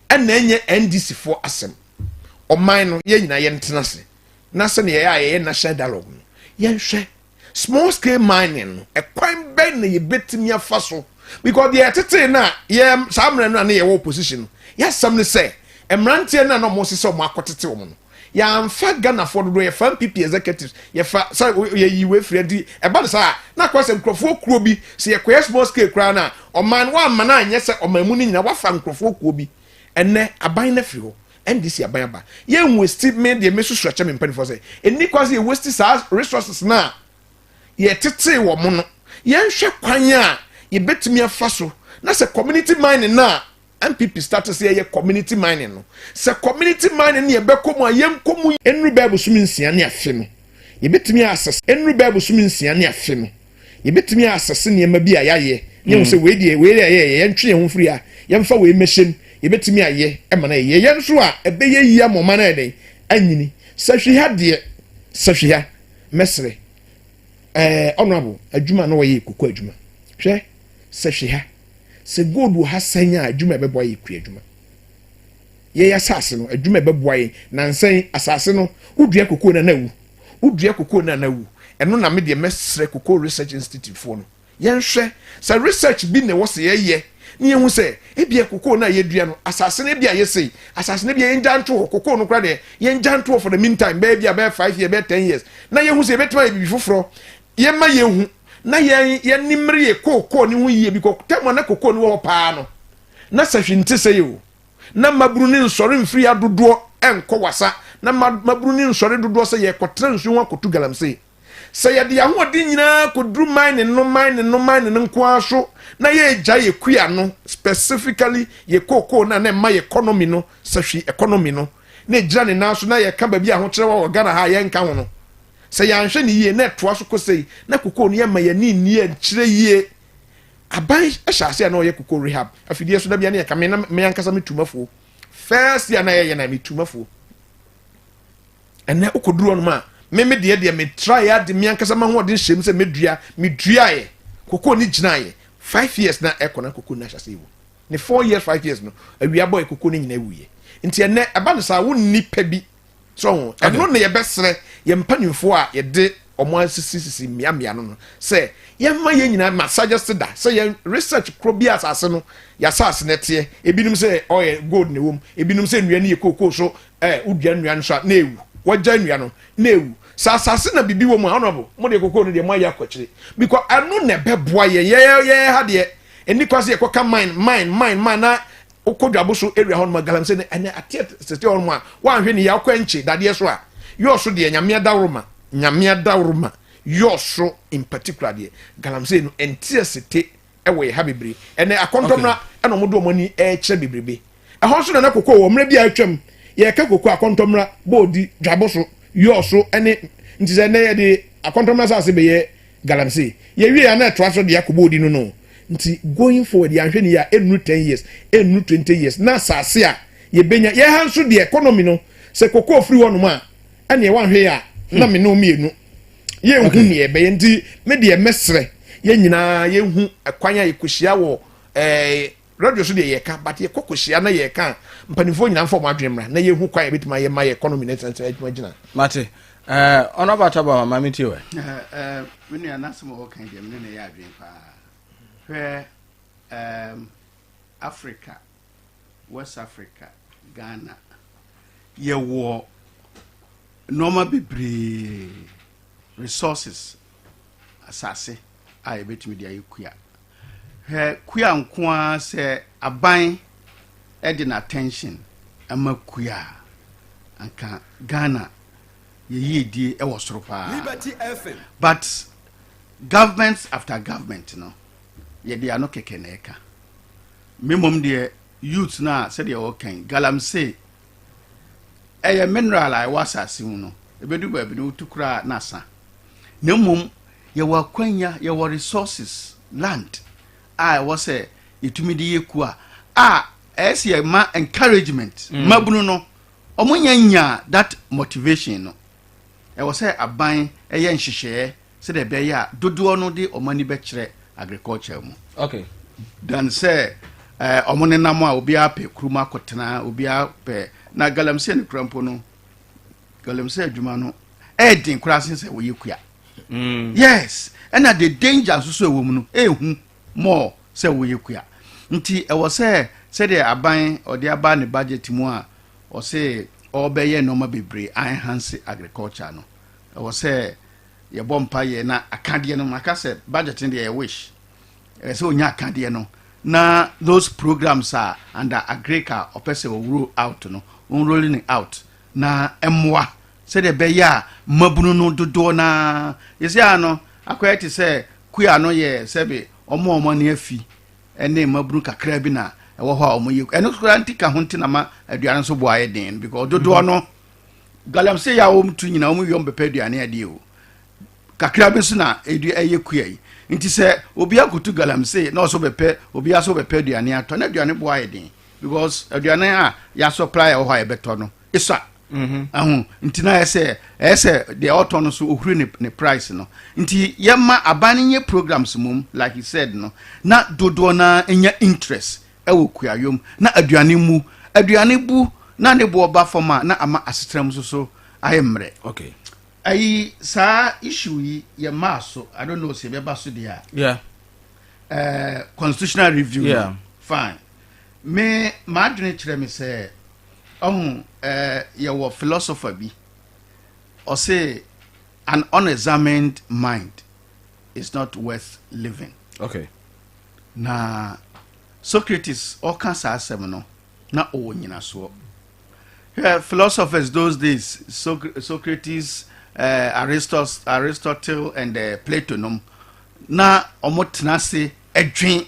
ɛna ɛnyɛ NDC foɔ asɛm. Ɔman no yɛn nyinaa yɛntena ase na sɛdeɛ yɛyɛ a yɛyɛ national dialogue no yɛnhwɛ. small scale mining no ɛkwan bɛn na yɛbɛtumi afa so because deɛ ɛtetee no a yɛ saa mmerɛ no a ne yɛwɔ opposition no yɛasɛm no sɛ mmeranteɛ no a na wɔn sesɛ wɔn akɔtete wɔn no yɛamfa ghanafoɔ dodoɔ yɛfa npp executives yɛfa sɛ yɛyi wei firi adi ɛba no saa na akɔ sɛ nkurɔfoɔ kuo bi sɛ yɛkɔyɛ small scale koraa no a ɔman wɔamma no anyɛ sɛ ɔman mu no nyina wafa nkurɔfoɔ kuo bi ɛnɛ aban no afiri hɔ NDC aban aba. Yɛn nwasti me deɛ mesu srɛkyɛ me mpanimfoɔ sɛ ɛnni kwan sɛ yɛ wasti saa resources no a yɛtetee wɔ mo no. Yɛnhwɛ kwan a yɛbɛtumi afa so na sɛ community mining no a NPP start sɛ yɛyɛ community mining no sɛ community mining no yɛbɛkɔ mu a yɛnkɔ mu. Ɛnnuru bɛɛ bosome nsia ne afe no yɛbɛtumi asesa. Ɛnnuru bɛɛ bosome nsia ne afe no Yɛbɛtumi asese nneɛma bi a yɛayɛ na yɛahu sɛ wei deɛ, wei deɛ ɛyɛ, yɛntwe yɛn ho mfiri ha, yɛmfa wei mmɛhyɛ mu. Yɛbɛtumi ayɛ ma no ayɛ yie. Yɛn nso a, ɛbɛyɛ yie ama ɔman no ayɛ dɛn? Anyini. Sahwiha deɛ, Sahwiha, mɛsrɛ, ɛɛ, Honourable, adwuma a na wɔyɛ yɛ koko adwuma. Hwɛ, Sahwiha, sɛ gold wɔ ha sɛn a, adwuma a ɛbɛboa yɛ kuadwuma. Yɛn asase no, adwuma a ɛbɛboa yɛn. Nnansa yi, asase no, wodua kokoo no a, na awu. Wodua kokoo no a, na awu. Ɛno na me deɛ mɛsrɛ Cocoa Research Institute foɔ no, yɛnhwɛ sɛ research bi na ɛwɔ sɛ yɛyɛ na yɛhu sɛ ebia kokoo no a yɛdua no, asase no ebia ayɛ sei, asase no ebia yɛngya nto hɔ, kokoo no koraa deɛ, yɛngya nto hɔ for the mean time, bɛyɛ ebia bɛyɛ five years, bɛyɛ ten years, na yɛhu sɛ yɛbɛtumi ayɛ biribi foforɔ. Yɛmma yɛnhu na yɛn yɛn mmere yɛ kokoo no ho yie bikɔ tam a na kokoo no wɔ hɔ pa ara no, na sɛ hwee nte sɛi o. na mmabunu no nsɔre mfiri ha dodoɔ nkɔ Wasa, na mmabunu no nsɔre dodoɔ sɛ yɛrekɔtra nsuo ho akɔtu galamsey. Sɛ yɛde yɛn ahoɔden nyinaa kɔduru mine no, mine no, mine no nko ara so, na yɛregyae yɛn kua no, specifically yɛn kookoo no a na ɛma yɛn economy no sahwi, economy no, na ɛgyina ne nan so, na yɛka baabi a ahokyerɛ wɔ wɔ Ghana ha a yɛrenka ho no, sɛ yɛanhwɛ no yie, na ɛtoa so kɔ sei, na kookoo no yɛmma yɛn ani nni yɛn kyerɛ yie. aban hyɛ ase a na ɔyɛ koko rehab afidie so da bia ne yɛka me na me ankasa me tumafuo first year na yɛyɛ na me tumafuo ɛnɛ wokɔduru ɔnom a me me deɛ deɛ metraeɛ ade me ankasa ma hoɔden hyɛm sɛ mɛdua meduaeɛ koko ne gyinaeɛ five years na ɛkɔ na koko no ahyɛ ase wu ne four years five years no awia bɔɛ koko no nyina wuiɛ nti ɛnɛ ɛba no saa wonni pɛ bi so ho ɛno na yɛbɛsrɛ yɛn mpanimfoɔ a yɛde wɔn asisisisi mmeammea no no sɛ yɛmma yɛn nyinaa ma suggest da sɛ yɛn research koro bi asase no yɛasase no teɛ ebinom sɛ ɔyɛ gold na ɛwom ebinom sɛ nnua no yɛ kookoo so ɛɛ wodua nnua no so a na ewu wɔgya nnua no na ewu sɛ asase na bibi wɔ mu a honourable mo deɛ kookoo no deɛ mo ayɛ akɔkyire because ɛno na ɛbɛboa yɛn yɛyɛ yɛyɛ ha deɛ ɛni kɔ ase yɛkɔ ka mine mine mine mine na wokɔ dwabo so area hɔ nom galamsey ne ɛnɛ ateɛ sete hɔ nom a woanhwɛ ne yɛ akɔ ɛnkye dadeɛ so a yɔɔ so deɛ nyamea daworo ma nyamea daworo ma yɔɔ so in particular deɛ galamsey no ɛnteɛ sete ɛwɔ yɛ ha bebree ɛnɛ akɔntɔmra okay. ɛna wɔn de wɔn ani ɛkyerɛ bebrebe ɛhɔ nso na na koko wɔ mmerɛ bi a atwam yɛka koko akɔntɔmra bɔɔdi dwabo so yɔɔ so ɛne nti sɛ ɛnɛ yɛde akɔntɔmra saase bɛyɛ Galamsey yɛ wiei a na ɛtoa so de akɔ bɔ odi no no nti going forward yɛanhwɛ no yie a ɛnnuru ten years, ɛnnuru twenty years na asaase a yɛbɛnya, yɛn ha nso deɛ economy no sɛ cocoa firi hɔnom a ɛnneɛ woanhwɛ yɛ a na me ne wo mmienu yɛnhu nea ɛbɛyɛ nti me deɛ mɛsrɛ yɛn nyinaa yɛnhu kwan a yɛkɔhyia wɔ ɛɛ. Radio so deɛ yɛka but yɛkɔ kɔhyia na yɛka mpanimfoɔ nyinaa mfa wɔn adwene mmra na yɛhu kwan a yɛbɛtumi ayɛ ma yɛ economy na ɛtena tena adwuma gyina. Mate ɛɛ ɔno abata bɔ ma mi ti wɛ. Ɛɛ mi nua n'asɛm a ɔka deɛ mi ne na yɛ adwene paa hwɛ ɛɛm Africa West Africa Ghana yɛwɔ nneɛma bebree resources asase a yɛbɛtumi de ayɛ kua. Hwɛ kua nko ara sɛ aban de na attention ma kua a anka Ghana yɛ yiedie ɛwɔ soro paa but government after government no yɛde ano kɛkɛ na ɛka me mmom deɛ youth no a sɛdeɛ wɔkan galamsey ɛyɛ mineral a ɛwɔ asase mu no ɛbɛdu baabi no wotu koraa na asa na mmom Yɛwɔ akwanya, yɛwɔ resources, land a ɛwɔ sɛ yɛtumi de yɛ kua a ɛyɛ sɛ yɛma encouragement mm. mabunu no ɔmo nya nya that motivation no ɛwɔ sɛ aban ɛyɛ nhyehyɛɛ sɛdeɛ ɛbɛyɛ a dodoɔ no de ɔmo ani bɛkyerɛ agriculture mu okay. dan sɛ eh, ɔmo uh, nenam a obiara pɛ kurom akɔtena obiara pɛ na galamsey no kura mpo no galamsey adwuma no ɛyɛ den koraa sen sɛ wɔyɛ kua mm. yes ɛna the danger nso so ɛwɔ mu no ɛhu more sɛ woyɛ kua nti ɛwɔ sɛ sɛdeɛ aban ɔde aba ne budget mu a ɔse ɔbɛyɛ nneɛma bebree enhance agriculture no ɛwɔ sɛ yɛbɔ mpa yɛ na akadeɛ no maka sɛ budget no deɛ yɛ wish ɛwɔ sɛ ɔnya akadeɛ no na those programs a under agric a ɔpɛ sɛ ɔwuro out no ɔnrolling out na ɛmmoa Sɛdeɛ ɛbɛyɛ a mmabunu no dodoɔ no ara, seesei ara no akɔyɛ te sɛ kua no yɛ sɛbe wɔn a wɔn ani afi ne mmabunu kakra bi na ɛwɔ hɔ a wɔyɛ kua. Ɛno nso koraa nti ka ho nti na ma aduane nso bo ayɛ den no because dodoɔ no galamsey a wɔtu nyinaa wɔn wie wɔbɛpɛ aduane adie o. Kakra bi nso na ɛdi ɛyɛ kua yi. Nti sɛ obi akotu galamsey na ɔso bɛpɛ obi aso bɛpɛ aduane atɔ na aduane bo ayɛ den because aduane a yɛasɔpla a ɛwɔ hɔ a yɛbɛtɔ no esua mhm. ɛho nti na yɛ sɛ ɛyɛ sɛ deɛ ɔtɔ no so ohuri ne ne price no nti yɛma aban no nyɛ programs mom like you said no na dodoɔ na nya interest ɛwɔ kuayom na aduane mu aduane bu na ne boɔ ba fam a na ama asetena mu nso so ayɛ mmerɛ okay ayi saa issue yi yɛ maa so i don't know sɛ yɛbɛba so deɛ a yeah. uh, constitutional review yeah. fine Me, m'adwene kyerɛ me sɛ, ɔho, eh, yɛwɔ philosopher bi, ɔse, An unexamined mind is not worth living. Okay. Na Socrates ɔka saa asɛm no, na ɔwɔ nyinasoɔ. Hwɛ, philosophers those days, Soc Socrates, eh, Aristos, Aristotle and eh, Plato nom, na wɔn tena ase adwen.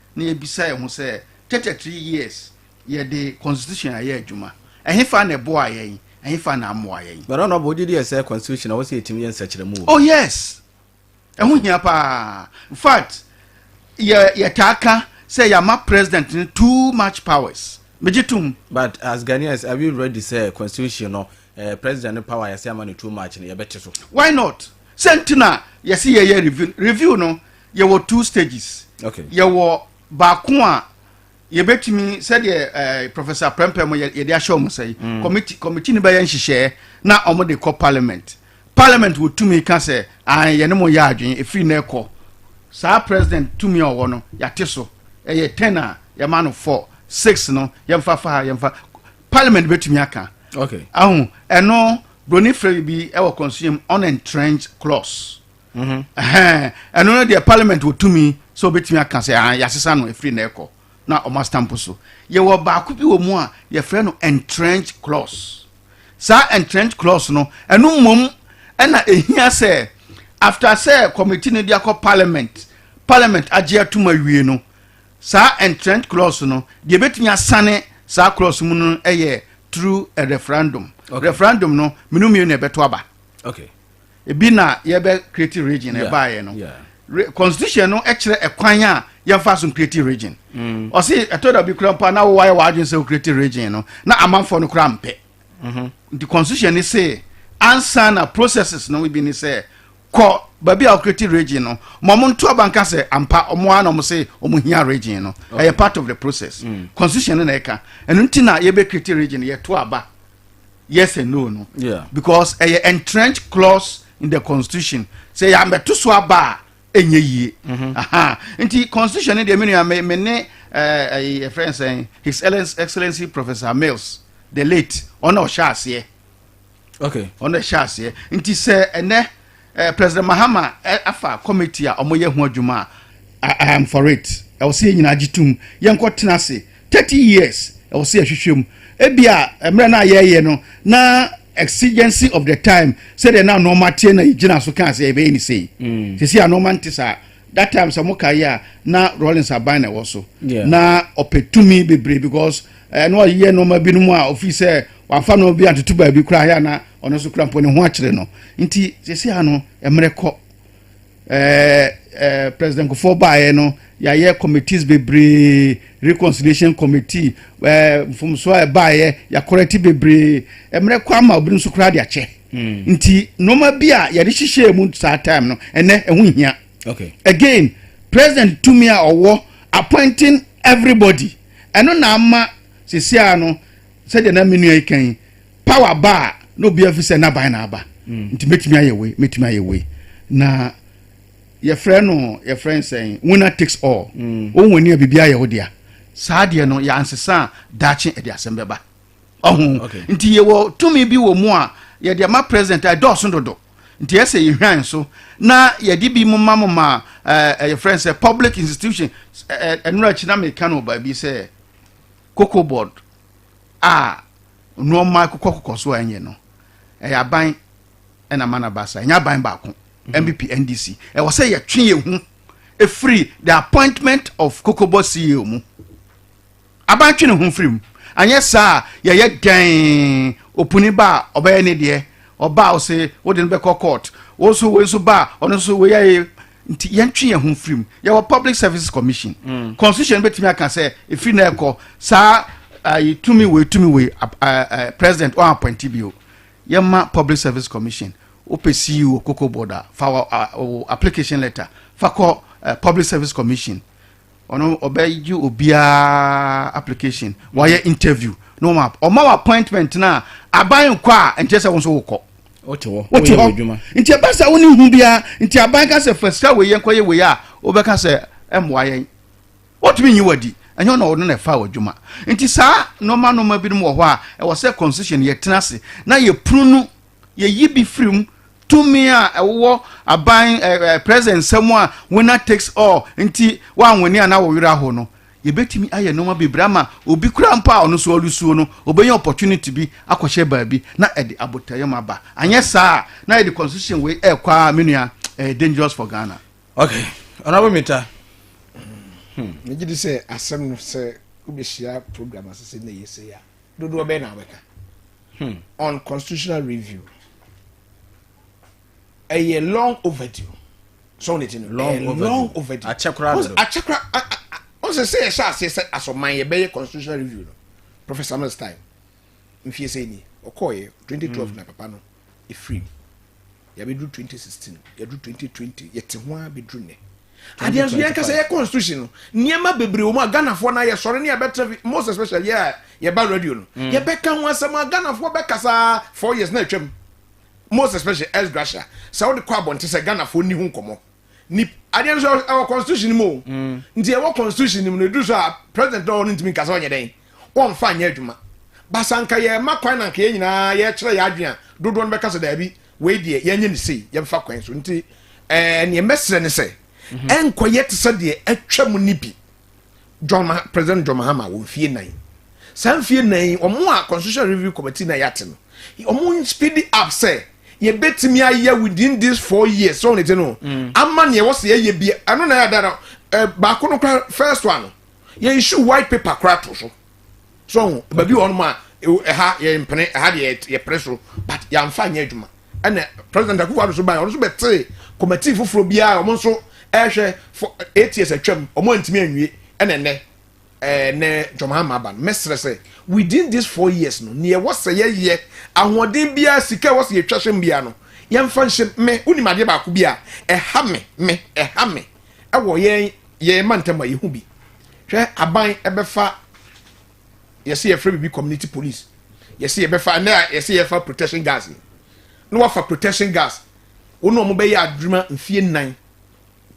na yɛbisa yɛn ho sɛ, Thirty three years yɛde constitution ayɛ adwuma, ɛhefa na ɛboaa yɛn, ɛhefa na ammoa yɛn? But ɔno ɔbɔ wogye di yɛ sɛ constitution na ɛwɔ sɛ yɛtumi yɛ nsɛkyerɛmu wɔ mu? Oh yes! Ɛho hia paa. In fact, yɛ yɛtaa ka sɛ yɛama president no too much powers. Megye tom. But as Ghanaians, are we ready sɛ constitution no eh, president no power a yɛsɛ ama no too much no yɛbɛte so? Why not? Sɛ nti na yɛse yɛyɛ review. Review no, yɛwɔ two stages okay. yɛwɔ baako a yɛbɛtumi sɛdeɛ eh, professor prɛmpɛ mu yɛde ahyɛ ɔmo sɛ yi mm. committee committee no bɛyɛ nhyehyɛɛ na ɔmo de kɔ parliament parliament wɔ tumi ka sɛ ah yɛne mo yɛ adwene efiri na ɛkɔ saa president tumi a ɔwɔ no yɛate so ɛyɛ ten a yɛma no four six no yɛmfa fa ha yɛmfa parliament bɛtumi aka okay. ahu ɛno broni fɛ bi ɛwɔ consume unentrenched clause Mhm. ɛno no deɛ parliament wɔtumi sɛ wɔbɛtumi aka sɛ ah, yɛasesa no ɛfiri na ɛkɔ na ɔma stamp so yɛwɔ baako bi wɔ mu a yɛfrɛ no entrench clause saa entrench clause no ɛno mmom ɛna ɛhia sɛ after sɛ committee no de akɔ parliament parliament agye atom awie no saa entrench clause no deɛ ɛbɛtumi asane saa clause mu no ɛyɛ through a referendum okay. referendum no menu mmienu na ɛbɛto aba okay. ebi na yɛbɛ create region ɛbaayɛ no constitution no ɛkyerɛ ɛkwan a yɛnfa so create region mm. ɔsi ɛtɔ dabi kura mpa na wɔwɔ ayɛ wɔadwene sɛ create region no na amanfoɔ no kura mpɛ mm-hmm. nti constitution ni se ansa na processes no bi ni sɛ kɔ baabi a ɔkiriti region no ma ɔmo nto abanka sɛ ampa ɔmo ara na ɔmo se ɔmo hia region no ɛyɛ part of the process mm. constitution no na ɛka ɛno nti na yɛbɛ kiriti region yɛto aba. yes and no no yeah. because ɛyɛ uh, entrenched clause in the constitution sɛ yɛamɛto so aba a ɛnyɛ yie nti constitution no deɛ me nua me ne ɛyɛ fɛn sɛn his excellency professor mills the late ɔna ɔhyɛ aseɛ okay ɔna ɛhyɛ aseɛ nti sɛ ɛnɛ President Mahama afa committee a wɔyɛ ho adwuma a, I am for it. Ɛwɔ sɛ yɛn nyinaa gye tom. Yɛnkɔ tena ase. Thirty years, ɛwɔ sɛ yɛhwehwɛ mu. Ebia mmerɛ no a yɛreyɛ no, na exigency of the time, sɛdeɛ na nnoɔma teɛ na yɛgyina so kaa sɛ yɛbɛyɛ ne sei. Sɛsi a nnoɔma nte saa. That time sɛ mo kae a, na Rawlings aban na ɛwɔ so. Na ɔpɛ tumi bebree because ɛno ɔyɛ nnoɔma binom a ofii sɛ Wamfa no bi antoto baabi koraa, yɛ a na ɔno nso kura mpo ne ho akyere no. Nti sɛsi a no, mmerɛ kɔ. Ɛɛ President Nkofoɔ baeɛ no, yɛayɛ committees bebree, reconciliation committee, ɛɛ mfomsoɔ a ɛbaeɛ, yɛakɔrɛte bebree. Mmerɛ kɔ ama obinom nso koraa de akyɛ. Hmm. Nti nneɛma bi a yɛde hyehyɛɛ mu saa time no, ɛnɛ ɛho nhia. Okay. Again, president tumi a ɔwɔ appointing everybody, ɛno na ama sɛsi a no, Sɛdeɛ na me nua yi ka yi, power ba a, na obiara fi sɛ n'aban na aba. Nti mɛtumi ayɛ wei, mɛtumi ayɛ wei. Na yɛfrɛ no, yɛfrɛ no sɛn, winner takes all. Wo win a, biribiara yɛ wo dea. Saa deɛ no, yɛansesa a, daakye ɛde asɛm bɛba. Ɔho? Nti yɛwɔ tumi bi wɔ mu a, yɛde ama president a, ɛdɔɔso dodo. Nti ɛyɛ sɛ yɛhwan nso, na yɛde bi moma moma ɛɛ yɛfrɛ no sɛ public institutions. Ɛɛ ɛno akyi na meka no wɔ baabi sɛ, cocoa board a nneɛma akokɔkokɔ so a ɛnyɛ no ɛyɛ aban ɛna ma na ba sa ɛnyɛ aban baako npp mhm. ndc ɛwɔ sɛ yɛtwe yɛn ho efiri the appointment of cocoa board ceo mu aban twe ne ho firi mu anyɛ saa yɛyɛ dɛn opuni ba a ɔbɛyɛ ne deɛ ɔba a ɔse wode no bɛkɔ court wo nso wei nso ba a ɔno nso wei yɛ nti yɛntwe yɛn ho mfiri mu yɛwɔ public services commission constitution bɛtumi aka sɛ ɛfiri na ɛkɔ saa ayi tumi wei tumi wei president ɔn appointi bio yɛma public service commission wopɛ ceo koko board a fa application letter fa kɔ public service commission ɔno ɔbɛgye obiara application wayɛ interview na ɔma ɔma wɔ appointment na aban nkɔ a nkyɛ sɛ wo nso wokɔ wote hɔ wote hɔ nti ɛba sɛ wo ne hu biara nti aban ka sɛ fa sika wei yɛ nkɔyɛ wei a wobɛka sɛ ɛmmoa yɛn wotumi nyi wadi ɛnyɛ na ɔno na ɛfa w'adwuma nti saa nɔma nɔma binom wɔ hɔ a ɛwɔ sɛ constitution yɛtena ase na yɛpunu no Yɛyi bi firi mu, tumi a ɛwowɔ aban ɛ ɛ president nsa mu a winner takes all nti woanwene a na wo werɛ ahow no. Yɛbɛtumi ayɛ nnoɔma bebree ama obi koraa mpo a ɔno nso ɔresuo no, ɔbɛnya opportunity bi akɔhyɛ baabi na ɛde abotayam aba. Anyɛ saa a, na yɛde constitution wei rekɔ ara me nua, ɛyɛ dangerous for Ghana. Ok, Honourable Mita. Hmm, megye di sɛ asɛm no sɛ wobɛhyia program asese na ɛyɛ sei a, dodoɔ bɛn na wobɛka? Hmm. on constitutional review ɛyɛ long overdue sɔɔ ne ti no long overdue long overdue akyɛkora dodo akyɛkora ɔn sɛ sɛ yɛhyɛ aseɛ sɛ asɔman yɛbɛyɛ constitutional review no professor mills time nfie sɛ ni ɔkɔɔyɛ 2012 hmm. na papa no efiri mu Yɛabɛduru twenty sixteen, yɛaduru twenty twenty, yɛte ho ara bɛduru nnɛ. Adeɛ nso yɛn kasa yɛ constitution no, nneɛma bebree wɔ mu a Ghanafoɔ no ayɛ sɔre ne yɛbɛtra fi most especially yɛ a yɛba radio no. Mm. Yɛbɛka ho asɛm a Ghanafoɔ bɛkasa four years na atwam. Most especially S. Gracia, sɛ wode kɔ abɔnte sɛ Ghanafoɔ nni ho nkɔmmɔ. nip. Adeɛ nso ɛwɔ constitution no mu o mm. nti ɛwɔ constitution no mu no ɛduru so a president na ɔwɔ no ntumi nka sɛ ɔnyɛ dɛn ɔmfa nyɛ adwuma basa nka yɛma kwan na nka yɛn nyinaa yɛkyerɛ yɛ adwene a dodoɔ no bɛka sɛ daabi wei deɛ yɛnyɛ ne sei yɛmfa kwan so nti ɛɛ neɛ mɛsrɛ ne sɛ mhm. ɛnkɔyɛ te sɛ deɛ atwa mu ne bi John Ma President John Mahama wɔ mfie nnan saa mfie nnan yi wɔn a constitution review committee na yɛate no wɔn speed up sɛ yɛbɛtumi ayɛ within this four years so ne ti no mm. ama nea ɛwɔ sɛ yɛyɛ bi ɛno na yɛada no eh, baako no kora first one no yɛ issue white paper kora to so so ho baabi wɔ hɔnom a ɛha yɛ mpene ɛha deɛ yɛ pere so but yɛamfa nyɛ adwuma ɛna president akufo ado so ban ɔno nso bɛtee committee foforɔ biara wɔn nso ɛhwɛ for eight years atwam wɔn antumi anwie ɛna nnɛ ɛɛ nnɛ ntɔmahama aba no mɛsrɛ sɛ within these four years no nea ɛwɔ sɛ yɛyɛ ahoɔden biara sika ɛwɔ sɛ yɛtwa hyɛm biara no yɛmfa nhyɛm me wonim adeɛ baako bi a ɛha me me ɛha me ɛwɔ yɛn yɛn mantam a yɛhu bi hwɛ aban ɛbɛfa yɛsɛ yɛfrɛ biribi community police yɛsɛ yɛbɛfa ɛnɛ a yɛsɛ yɛfa protection gas yi na wafa protection gas wɔn a wɔbɛyɛ adwuma mfie nnan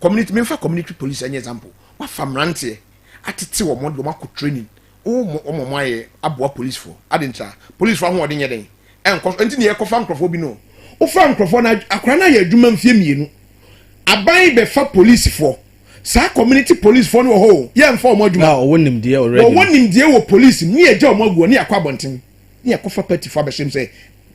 community memfa community police ɛnyɛ example wafa mmeranteɛ atete wɔn wɔn de wɔn akɔ training wɔn wɔn wɔn ayɛ aboa police fo adi nkyɛn police fo ahoɔden yɛ den ɛnkɔ so nti na yɛkɔfa nkurɔfoɔ bi no wofa nkurɔfoɔ na akora no ayɛ adwuma mfie mmienu aban bɛfa police fo Saa community police foɔ no wɔ hɔ o, yɛ nfa wɔn adwuma. Na ɔwɔ nimdeɛ already. Wɔwɔ nimdeɛ wɔ police mu, ne yɛ gya wɔn agu hɔ, ne yɛ akɔ abɔnten, ne yɛ kɔ fa party foɔ abɛhyɛ mu sɛ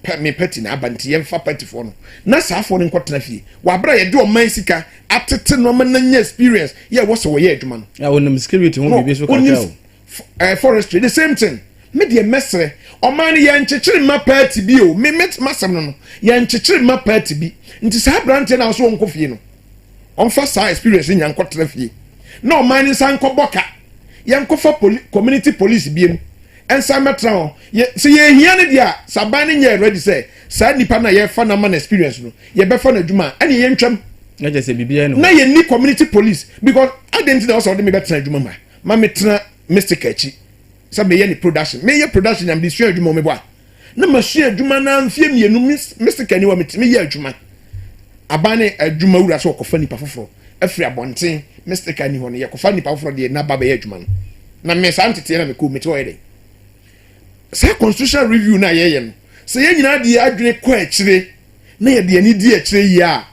pɛ me party na aba nti yɛ nfa party foɔ no, na saa foɔ no nkɔ tena fie, wɔ abere a yɛ de ɔman sika atete nnoɔma na nya experience yɛ wɔ sɛ wɔ yɛ adwuma no. Na ɔnim security ho biribi nso kakra o. eh, forestry the same thing me deɛ mɛsrɛ ɔman no yɛnkyekyere mma paati bi o me met masɛm no no yɛnkyekyere mma paati bi nti saa aberanteɛ no a ɔso ɔnkɔ fie no ɔmfa saa experience nya nkɔtra fie na ɔman no nsa nkɔbɔ ka yɛnkɔfa poli community police biem nsa mmɛtra hɔ yɛ sɛ yɛhia no deɛ a sɛ aban no nyɛ ready sɛ saa nnipa no a yɛfa no ama no experience no yɛbɛfa no adwuma a ɛne yɛntwam na yɛnni community police because adɛn nti na ɔsɛ ɔde mebɛtena adwuma mu a Ma me tena Mistika akyi sɛ meyɛ ne production. Me yɛ production na me de sua adwuma wɔ me bɔ a. Na ma sua adwuma na mfie mmienu Mistika ni wɔ me ti me yɛ adwuma. Aban ne adwuma wura sɛ ɔkɔfa nipa foforɔ afiri abɔnten Mistika ni hɔ no yɛ kɔfa nipa foforɔ deɛ na ba bɛyɛ adwuma no. Na me saa nteteɛ na me kɔ me te hɔ yɛ dɛn. Saa constitutional review no a yɛyɛ no sɛ yɛn nyinaa de yɛn adwene kɔ akyire na yɛde yɛn ani di akyire yie a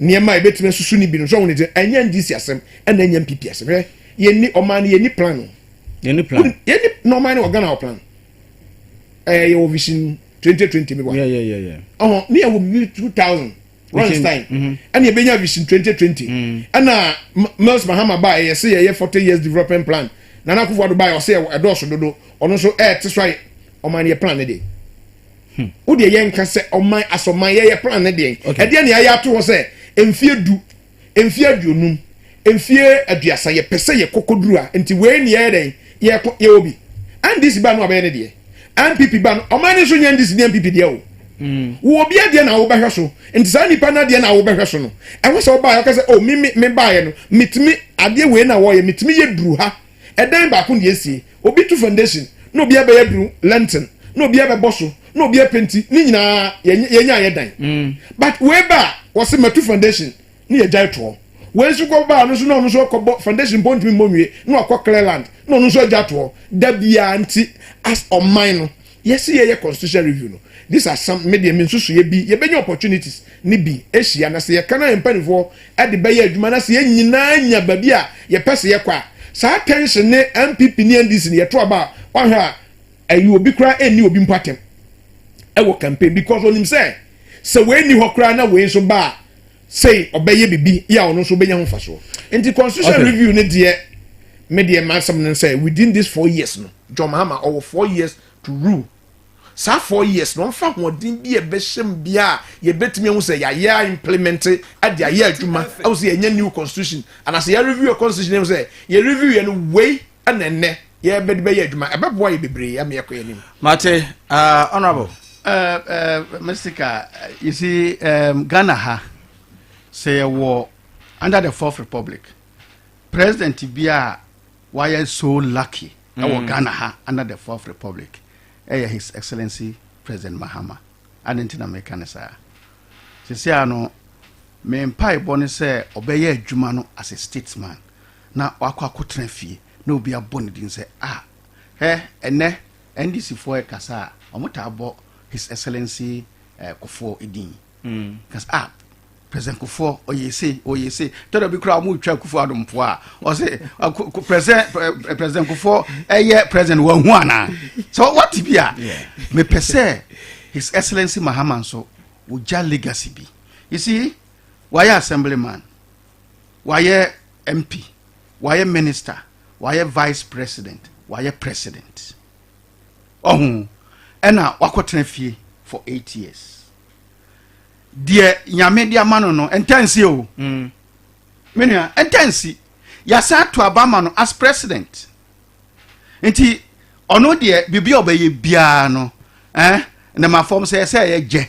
Nneɛma a yɛbɛtumi asusu no bi no, sɛ ɔhu no sɛ ɛnyɛ NGC asɛm ɛna ɛnyɛ NPP asɛm. Hwɛ, yɛnni ɔman no yɛnni plan o. Yɛnni plan. Yɛnni na ɔman no wɔ Ghana wɔ plan. Ɛɛ yɛwɔ vision twenty twenty mi wa. Yɛ yɛ yɛ yɛ. Ɔhɔn ne yɛwɔ bibi two thousand. Rosenstein mhm. ɛna yɛbɛnya vision twenty twenty. Mm. Ɛna Mills Mahama baa yɛ sɛ yɛyɛ forty years development plan. Nana Akufo-Addo baa yɛ ɔsɛ ɛdɔɔso dodo. Ɔno nso ɛɛte so ayɛ ɔman no yɛ plan ne de. Hmm. Wo deɛ yɛn nka sɛ ɔman asɔman yɛyɛ plan ne deɛn? Ɛdeɛ ne ayɛ ato hɔ sɛ mfie du, mfie aduonum, mfie aduasa yɛpɛ sɛ yɛ kɔkɔduru a nti wei ne yɛyɛ dɛn? Yɛko yɛwɔ bi. NDC ba no abɛyɛ ne deɛ. NPP ba no ɔman no nso nyɛ NDC ne NPP deɛ o. Hmm. Wo obi adeɛ na wobɛhwɛ so nti saa nipa no adeɛ na wobɛhwɛ so no ɛho sɛ ɔbaeɛ ɔka sɛ o oh, me me mebaeɛ no metumi adeɛ wei na wɔyɛ metumi yɛ duru ha Ɛdan baako na yɛasie. Obi to foundation, na obi abɛyɛ duru, lintel, na obi abɛbɔ so, na obi apenti, ne nyinaa yɛn yɛn ayɛ dan. But wei ba a, wɔse matu foundation, na yɛgyae toɔ. Wei nso kɔ ba a, ɔno nso na ɔno nso akɔbɔ, foundation mpo ɔntumi mmɔ nwie, na wakɔ clear land, na ɔno nso agya toɔ. Da biara nti, as ɔman no, Yɛse yɛyɛ constitution review no this are some me deɛ me nsusuiɛ bi yɛbɛnya opportunities ne bi ahyia na sɛ yɛka na yɛn mpanifoɔ de bɛyɛ adwuma na sɛ yɛn nyinaa nya baabi a yɛpɛ sɛ yɛkɔ a saa tension ne NPP ne NDC no yɛto aba a wahwɛ a ayi obi koraa ɛnni obi mpo atɛm ɛwɔ campaign because onim sɛ sɛ wei nni hɔ koraa na wei nso ba a sei ɔbɛyɛ biribi yɛ a ɔno nso ɔbɛnya ho mfasoɔ nti constitution okay. review ne deɛ me deɛ m'asɛm no sɛ within this four years no John Mahama ɔwɔ four years to rule saa four years no ɔmfa hoɔden bi a ɛbɛhyɛ mu bi a yɛbɛtumi ahu sɛ yɛayɛ implement de ayɛ adwuma ɛho sɛ yɛnyɛ new constitution anaasɛ yɛreview constitution ɛho sɛ yɛreview yɛ no wei ɛna nnɛ yɛbɛde bɛyɛ adwuma ɛbɛboa yɛ bebree ama yɛkɔ yɛ anim mate uh, honorable uh, uh, mr ka you see um, ghana ha sɛ yɛwɔ under the fourth republic president bi a wayɛ so lucky ɛwɔ mm. ghana ha under the fourth republic ɛyɛ his excellency president mahama ade nti na meka ne saa sɛsi a no me mpaebɔ ne sɛ ɔbɛyɛ adwuma no as a statesman na wakɔ akɔtena fie na obi abɔ ne din sɛ, Ah, hwɛ ɛnnɛ NDC foɔ rekasa a, wɔtaa bɔ His Excellency eh, Kufuor din. Ka sɛ, ah, President Kufuor, ɔyɛ sei, ɔyɛ sei. Tɔ da bi koraa wɔretwa Kufuor Addo mpoa a, ɔse, ah, Ku- Ku- President eh, eh, President Kufuor ɛyɛ president wɔahu anaa? Sɛ wɔte bi a, mepɛ sɛ His Excellency Mahama nso, ɔgya legacy bi. You see, wayɛ assemblyman, wayɛ MP, wayɛ minister, wayɛ vice president, wayɛ president. Ɔho, ɛna wakɔtena fie for eight years. Deɛ nyame de ama no no, ɛntɛnsi o. Mm. Menua, ɛntɛnsi. Yasa ato aba ma no as president. Nti, ɔno deɛ, biribi a ɔbɛyɛ biara no, eh, ne ma fam sɛ ɛsɛ ɛyɛ gyɛ.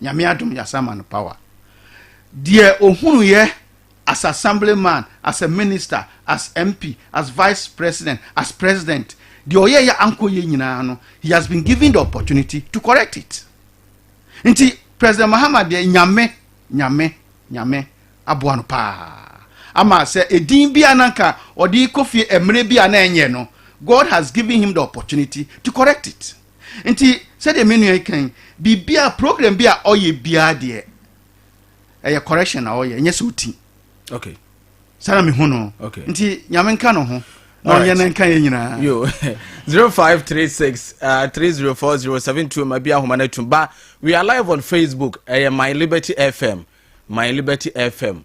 Nyame adom yasa ama no power. Deɛ ɔhunuiɛ as assemblyman, as a minister, as MP, as vice president, as president, deɛ ɔyɛeɛ a ankɔ yie nyinaa no, he has been given the opportunity to correct it. Nti President Mahama deɛ Nyame, Nyame, Nyame aboa no paa ama sɛ edin bi a na nka ɔde kɔ fie mmerɛ bi a na ɛnyɛ no, God has given him the opportunity to correct it. Nti sɛdeɛ me nua yi kan yi, biribiara program bi a ɔyɛ biara deɛ ɛyɛ correction na ɔyɛ ɛnyɛ sɛ ɔti okay. saa na mehu no okay. nti nyame nka no ho na ɔyɛ no nka yɛ nyinaa 0536 uh, 304072 ma bi ahoma no atum ba we are live on facebook ɛyɛ my liberty fm my liberty fm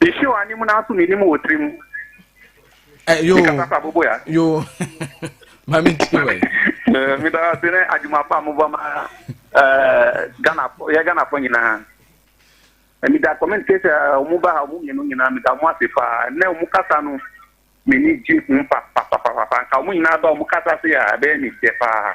Mehye wɔ anim na aso menim wɔ tirim. Eh, yo. Mekasa sa bobo ya. Yo. Mami ntiwe. Eh, me da se ne adwuma pa mo ba ma eh Ghana fo, ye Ghana fo nyina. Eh, me da comment case eh, omo ba ha omo mienu nyina me da mo ase fa. Ne omo kasa no me ni gye ho pa pa pa pa pa. Nka omo nyina ba omo kasa se ya be me se pa.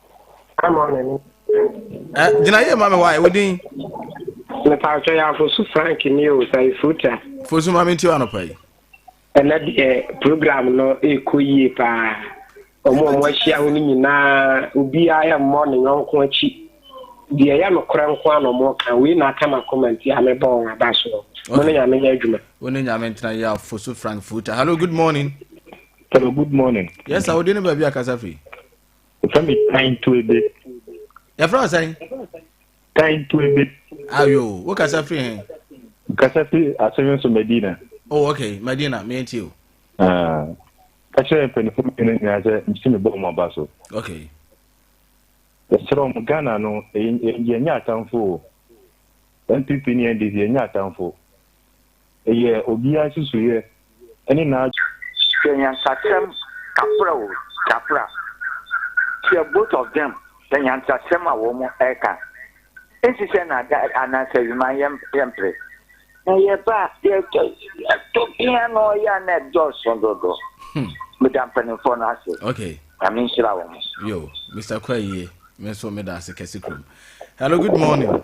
gyinaeɛ ma me wae wo din mepatwɛ yɛ afosu frank ne o sa ɛfuruta fosu ma menti anɔpa yi ɛnɛ deɛ program no ɛkɔ yie paa ɔmo ɔmo ahyia ho no nyinaa obiaa ɛmmɔ ne yɔnko akyi deɛ ɛyɛ nokorɛ nko a na ɔmo ka wei na aka ma kɔma nti a mebɔ wɔn aba soɔ mo ne nyame nyɛ adwuma wo ne nyame ntena yɛ afosu frank furuta hello good morning hello good morning yes a wode ne baabi akasa firi Yɛfrɛ me Tantuebe. Yɛfrɛ wo sɛn? Tantuebe. Ayo, wokasa firi he? Kasa firi asɔre nso Medina. Oh, okay, Medina, me nti o. Ah, ka kyerɛ mpanyinfoɔ mmienu nyinaa sɛ msi mebɔ wɔn aba so. Okay. Yɛsrɛ wɔn Ghana no, yɛnyɛ atamfo o. NPP ne NDC yɛnyɛ atamfo. Ɛyɛ obiara nsusuiɛ ne n'adwene. Hwɛ nyansakyerɛm kapra o kapra. Kyerɛ both of them sɛ nyansakyerɛm a wɔn ɛka nsi sɛ nada anaasɛ awima yɛmpere. Na yɛba a yɛtɔ ɛtɔ bia na ɔyɛ a na ɛdɔɔso dodo. Meda mpanimfoɔ no ase. Okay. Nyame nhyira wɔn. Yo, Mr. Kura yie. Me nso meda ase kɛse kurom. Hello, good morning.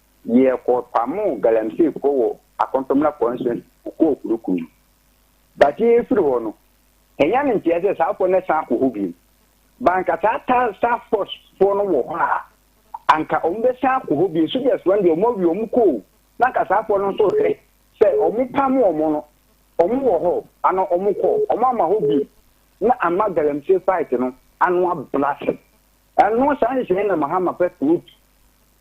Yɛ kɔ pamoo galamsey foɔ wɔ Akontomena constituency mu kɔɔ Kuruku no. But yɛ firi hɔ no, hɛnya ne nteɛ sɛ saa foɔ no san akɔ hɔ biom. But anka saa task force foɔ no wɔ hɔ a, anka ɔmo bɛ san akɔ hɔ biom. Soldiers foɔ no deɛ ɔmo awie ɔmo kɔ o, na anka saa foɔ no nso hwɛ sɛ ɔmo pamo ɔmo no, ɔmo wɔ hɔ ana ɔmo kɔ, ɔmo ama hɔ biom na ama galamsey fight no ano ablase. Ɛno saa nhyehyɛɛ no na Mahama pɛ to it.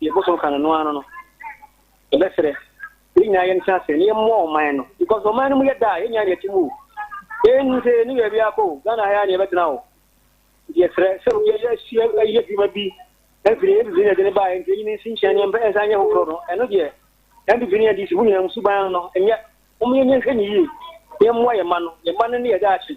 Yɛn bosom ka no no ara no no, yɛbɛsrɛ yɛn nyinaa yɛn tra ase na yɛn mmɔ ɔman no because ɔman no mu yɛ da a yɛn nyinaa na yɛte mu o. Yɛn nni sɛ yɛn ni baabi akɔ o, Ghana ha yɛ na yɛbɛtena o. Nti yɛsrɛ sɛ yɛ yɛ si yɛ adwuma bi ɛfiri yɛ bibi na ɛde ne ba yɛ nti yɛn nsi nkyɛn yɛn mpɛ nsa nyɛ foforɔ no ɛno deɛ yɛn bibi ne yɛn de si mu nyinaa mu suban no nyɛ wɔn yɛn yɛn hwɛ ne yie yɛn mmoa yɛn ma no yɛn ma no ne yɛ daakye.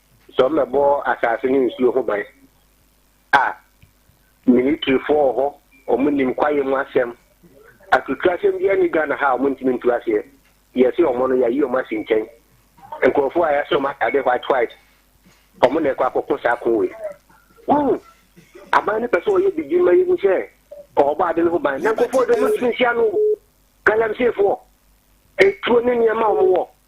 Sɛ wɔbɛbɔ asase ne nsuo ho ban a, militirifoɔ wɔ hɔ, wɔn nim kwaeɛ mu asɛm. Atutuo asɛm biara nni Ghana ha a wɔn ntumi ntu aseɛ. Yɛse wɔn no yɛayi wɔn asi nkyɛn. Nkurɔfoɔ a yɛahyɛ wɔn ataade white white, wɔn na ɛkɔ akɔko saa ko wei. Wohu? Aban no pɛ sɛ wɔyɛ biribi ma yɛhu sɛ wɔbɔ ade no ho ban. Na nkurɔfoɔ deɛ wɔn ntumi nsi ano. Galamseyfoɔ, atuo ne nneɛma a wɔn wɔ.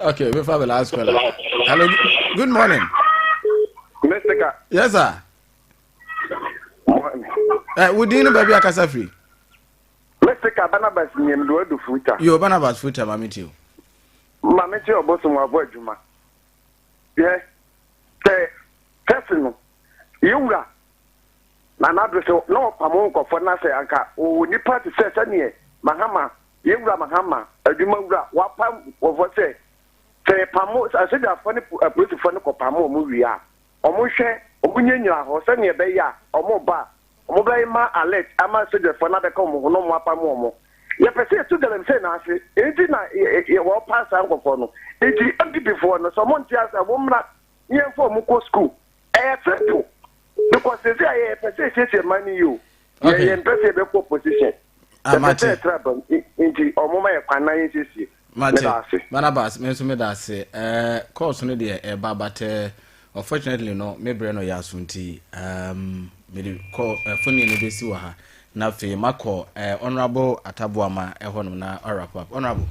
Okay, we have a last caller. Hello, good morning. Mr. Ka. Yes, sir. Eh, we didn't baby akasa free. Mr. Ka Barnabas nyem do do futa. Yo Barnabas futa mami tio. Mami tio boso mo abo adwuma. Yeah. Te test no. Yewura. Na na do so no pamo nkofo na se anka o nipa te se se ne mahama Yɛn Wura Mahama, Adwumawura, w'apam nkurɔfoɔ sɛ, sɛ yɛpamo, sɛ asogyafoɔ ne apolisifoɔ no kɔpamo wɔn wie a, wɔnhwɛ, wɔnyinyagyina hɔ sɛdeɛ ɛbɛyɛ a wɔreba a, wɔbɛma alert ama asogyafoɔ no abɛka wɔn ho na wɔapamo wɔn. Yɛpɛ sɛ yɛto galamsey no ase, enti na wɔrepa saa nkurɔfoɔ no. Enti, MPPfoɔ no, sɛ wɔnte aseɛ a, wɔmmra na yɛmfa wɔn nkɔ sukuu. Ɛyɛ simple because sɛ sɛ ayɛ yɛ pɛ sɛ ɛsiesie man no yie o. Yɛ yɛ mpɛ sɛ yɛbɛkɔ opposition. Ah, Yɛpɛ sɛ yɛtra bam nti ɔmo ma yɛ kwan na yɛnsiesie. Mate, Barnabas, me nso meda ase. Eh, course no deɛ ɛba but eh, unfortunately no me brɛ no yɛ aso nti um, mede kɔ eh, foni no bɛsi wɔ ha na afei makɔ eh, honorable ataboama ɛhɔ nom na ɔwrap up honorable.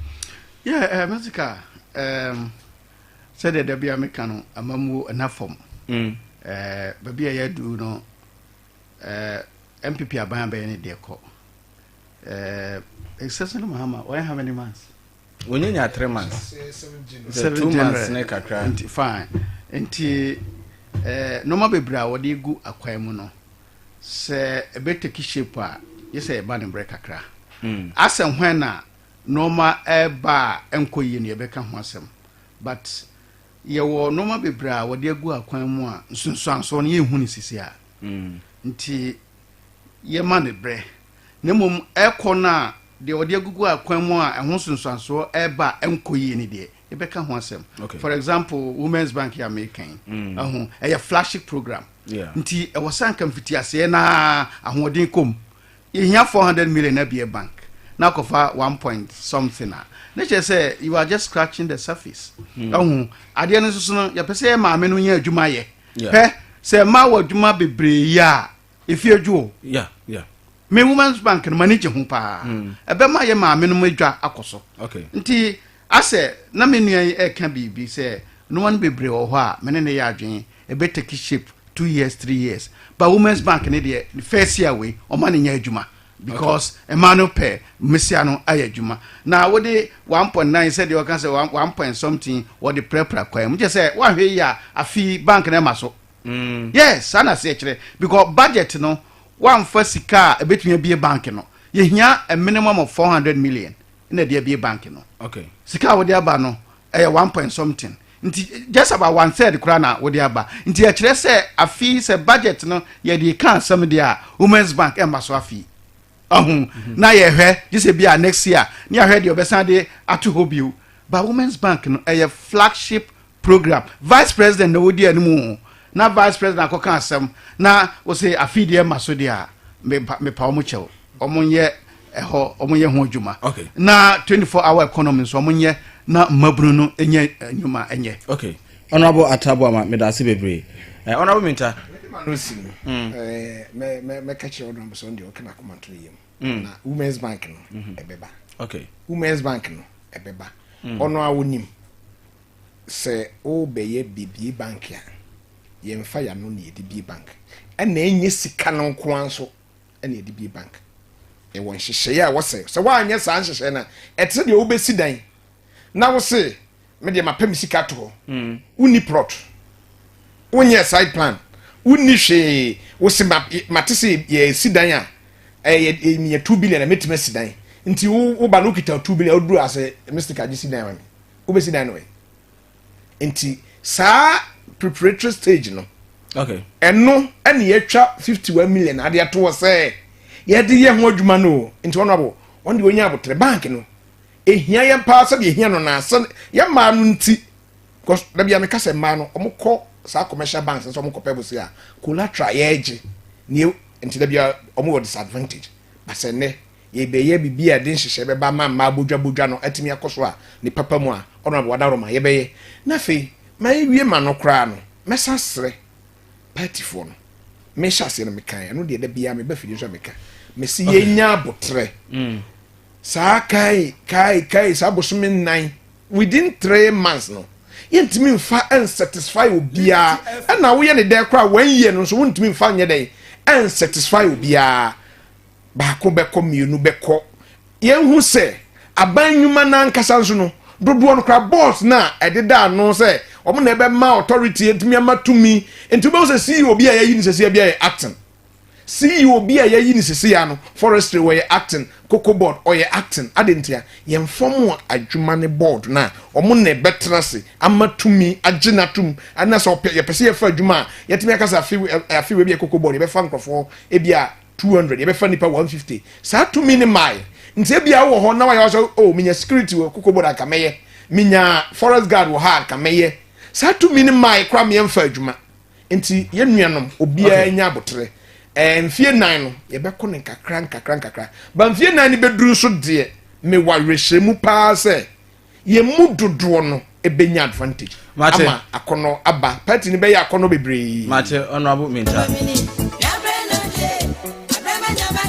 Yeah, eh, Mr. Ka, um, sɛdeɛ da bia meka no amammuo ɛna fam mm. eh, baabi a yɛadu no eh, mpp aban abɛyɛ ne deɛ kɔ eh, exceptional mahama wɔyɛ how many months wɔnyanya three months seven months ne kakra nti fine nti eh, nnoɔma bebree a wɔde gu akwan mu no sɛ ɛbɛtaki shape a yɛ sɛ yɛba ne mmerɛ kakra mm. asɛ hwan na Nnoɔma reba a ɛnkɔ yie no yɛbɛka ho asɛm but yɛwɔ nnoɔma bebree a wɔde agu akwan mu a nsunsuansoɔ no yɛnhu no sisi a nti yɛma no berɛ na mmom ɛkɔ no a deɛ wɔde agugu akwan mu a ɛho nsunsuansoɔ ɛreba a ɛnkɔ yie no deɛ yɛbɛka ho asɛm for example women's bank yɛ a meka yi ɛho ɛyɛ flagship program nti ɛwɔ sɛ anka mfitiaseɛ na ahoɔden kɔ mu Yehia four hundred million na bue bank na akɔfa one point something a ne kyerɛ sɛ you are just scratching the surface. Ɛho hmm. adeɛ no nso no yɛpɛ sɛ yɛ maame no nya adwuma yɛ. Pɛ sɛ mmaa wɔ adwuma bebree yɛ a efi adwo o. Me women's bank no m'ani gye ho paa. Hmm. Ɛbɛma yɛ maame no adwa akɔ so. Nti Asɛ na me nua yi ɛka biribi sɛ noa no bebree wɔ hɔ a me ne no yɛ adwene ɛbɛ take shape two years three years but women's bank no deɛ first year wei ɔma no nyɛ adwuma because mmaa no pɛ mmesia no ayɛ adwuma na wode one point nine sɛdeɛ ɔka sɛ one point something wɔde prapra kwan mu kyɛ sɛ woanhwɛ yie a afe yi bank no ɛma so yes saa na aseɛ kyerɛ because budget no woamfa sika a ɛbɛtumi abie bank no yɛhia a minimum of four hundred million na ɛde abie bank no okay sika a wode aba no ɛyɛ one point something nti just about one third koraa na wode aba nti ɛkyerɛ sɛ afi sɛ budget no yɛde ka asɛm deɛ a women's bank ɛmma so afi ɔho mhm. na yɛhwɛ gye sɛ bi a next year ne ahwɛ deɛ ɔbɛsan de ato hɔ bio ba women's bank no ɛyɛ flagship program vice president na wodi anim o na vice president akɔka asɛm na wose afi deɛ ma so deɛ a mepa wɔn kyɛw wɔn nyɛ ɛhɔ wɔn nyɛ ho adwuma na 24 hour economy nso wɔn nyɛ na mmabunu no nyɛ nnwuma nyɛ. okay honourable atabo ama meda ase bebree ɛɛ eh, honourable minta. Hmm. Eh, mɛka kyerɛ honourable sɛ ɔn deɛ ɔkena akoma to ne yam hmm. na women's bank no ɛbɛba hmm. women's bank no ɛbɛba ɔno a wonim Sɛ worebɛyɛ bebie bank a, yɛmfa y'ano na yɛde bie bank, ɛna ɛnyɛ sika no nko ara nso na yɛde bie bank. Yɛwɔ nhyehyɛeɛ a wɔsɛ sɛ woanyɛ saa nhyehyɛeɛ no a, ɛte sɛ deɛ wobɛsi dan na wose me deɛ mapɛ me sika ato hɔ, mm. wonni plot, wonyɛ side plan, wonni hwee, wose mate sɛ yɛsi dan a ɛyɛ eh, meyɛ two billion a mɛtumi asi dan nti woba no wokita two billion woduru ase Mr. Kagye si dan ma me wobɛsi dan no ɛ nti saa preparatory stage no okay. ɛno ɛne yɛatwa 51 million ade ato hɔ sɛ yɛde yɛ ho adwuma no o nti ɔno abo ɔno deɛ ɔnya abotrɛ bank no ɛhia yɛn paa sɛdeɛ ɛhia no naa sɛ yɛ mmaa no nti because da bia meka sɛ mmaa no ɔmokɔ saa commercial banks nso ɔmokɔ pɛ bo se a collateral yɛgye ne nti da bia ɔmowɔ disadvantage basɛ nnɛ Yɛbɛyɛ biribi a ɛde nhyehyɛe bɛba ma mmaa bodwabodwa no atumi akɔ so a ne papa mu a, Honourable Adaworoma, yɛbɛyɛ. Na afei, ma yɛnwie ma no koraa no, mɛsan asrɛ paatifoɔ no. Mehyɛ aseɛ no mekaeɛ, ɛno deɛ da biara meba fidie nso a meka. Mese yɛnya aboterɛ. Saa kae, kae, kae, saa bosome nnan, within three months no, yɛntumi mfa nsatisfy obiara. Ɛna woyɛ ne dɛn koraa one year no nso wontumi mfa nyɛ dɛn nsatisfy obiara. baako bɛkɔ mmienu bɛkɔ yɛn ho sɛ aban nnwuma n'ankasa nso no dodoɔ no kora board no a ɛdeda ano sɛ wɔn na ɛbɛma authority atumi ama tumi nti wobɛhu sɛ ceo bi a yɛayi ne sɛseɛ bi a yɛ acting ceo bi a yɛayi ne sɛseɛ no forestry wɔyɛ acting cocoa board ɔyɛ acting ade nti a yɛn fam adwuma ne board no a wɔn na ɛbɛtena ase ama tumi agye no atom ɛna sɛ yɛpɛ sɛ yɛfa adwuma a yɛtumi akasa afe afe wɔ bi a cocoa board yɛbɛfa nkurɔfoɔ ebi a two hundred yɛbɛfa nipa one fifty saa tumi ne maae nti ebia wɔ hɔ na wayɛ wasɔ oh menya security wɔ kokobo na nka mɛyɛ menya forest guard wɔ ha a nka mɛyɛ saa tumi ne maae kora meɛ mfa adwuma nti yɛn nuanom obiara nya abotere ɛɛ mfie nan no yɛbɛkɔ ne nkakra nkakra nkakra ba mfie nan ne bɛduru nso deɛ mewɔ awerɛhyɛmu paa sɛ Yɛn mu dodoɔ no bɛnya advantage ama akɔnɔ aba. Party no bɛyɛ akɔnɔ bebree. Mate, Honourable Mintah.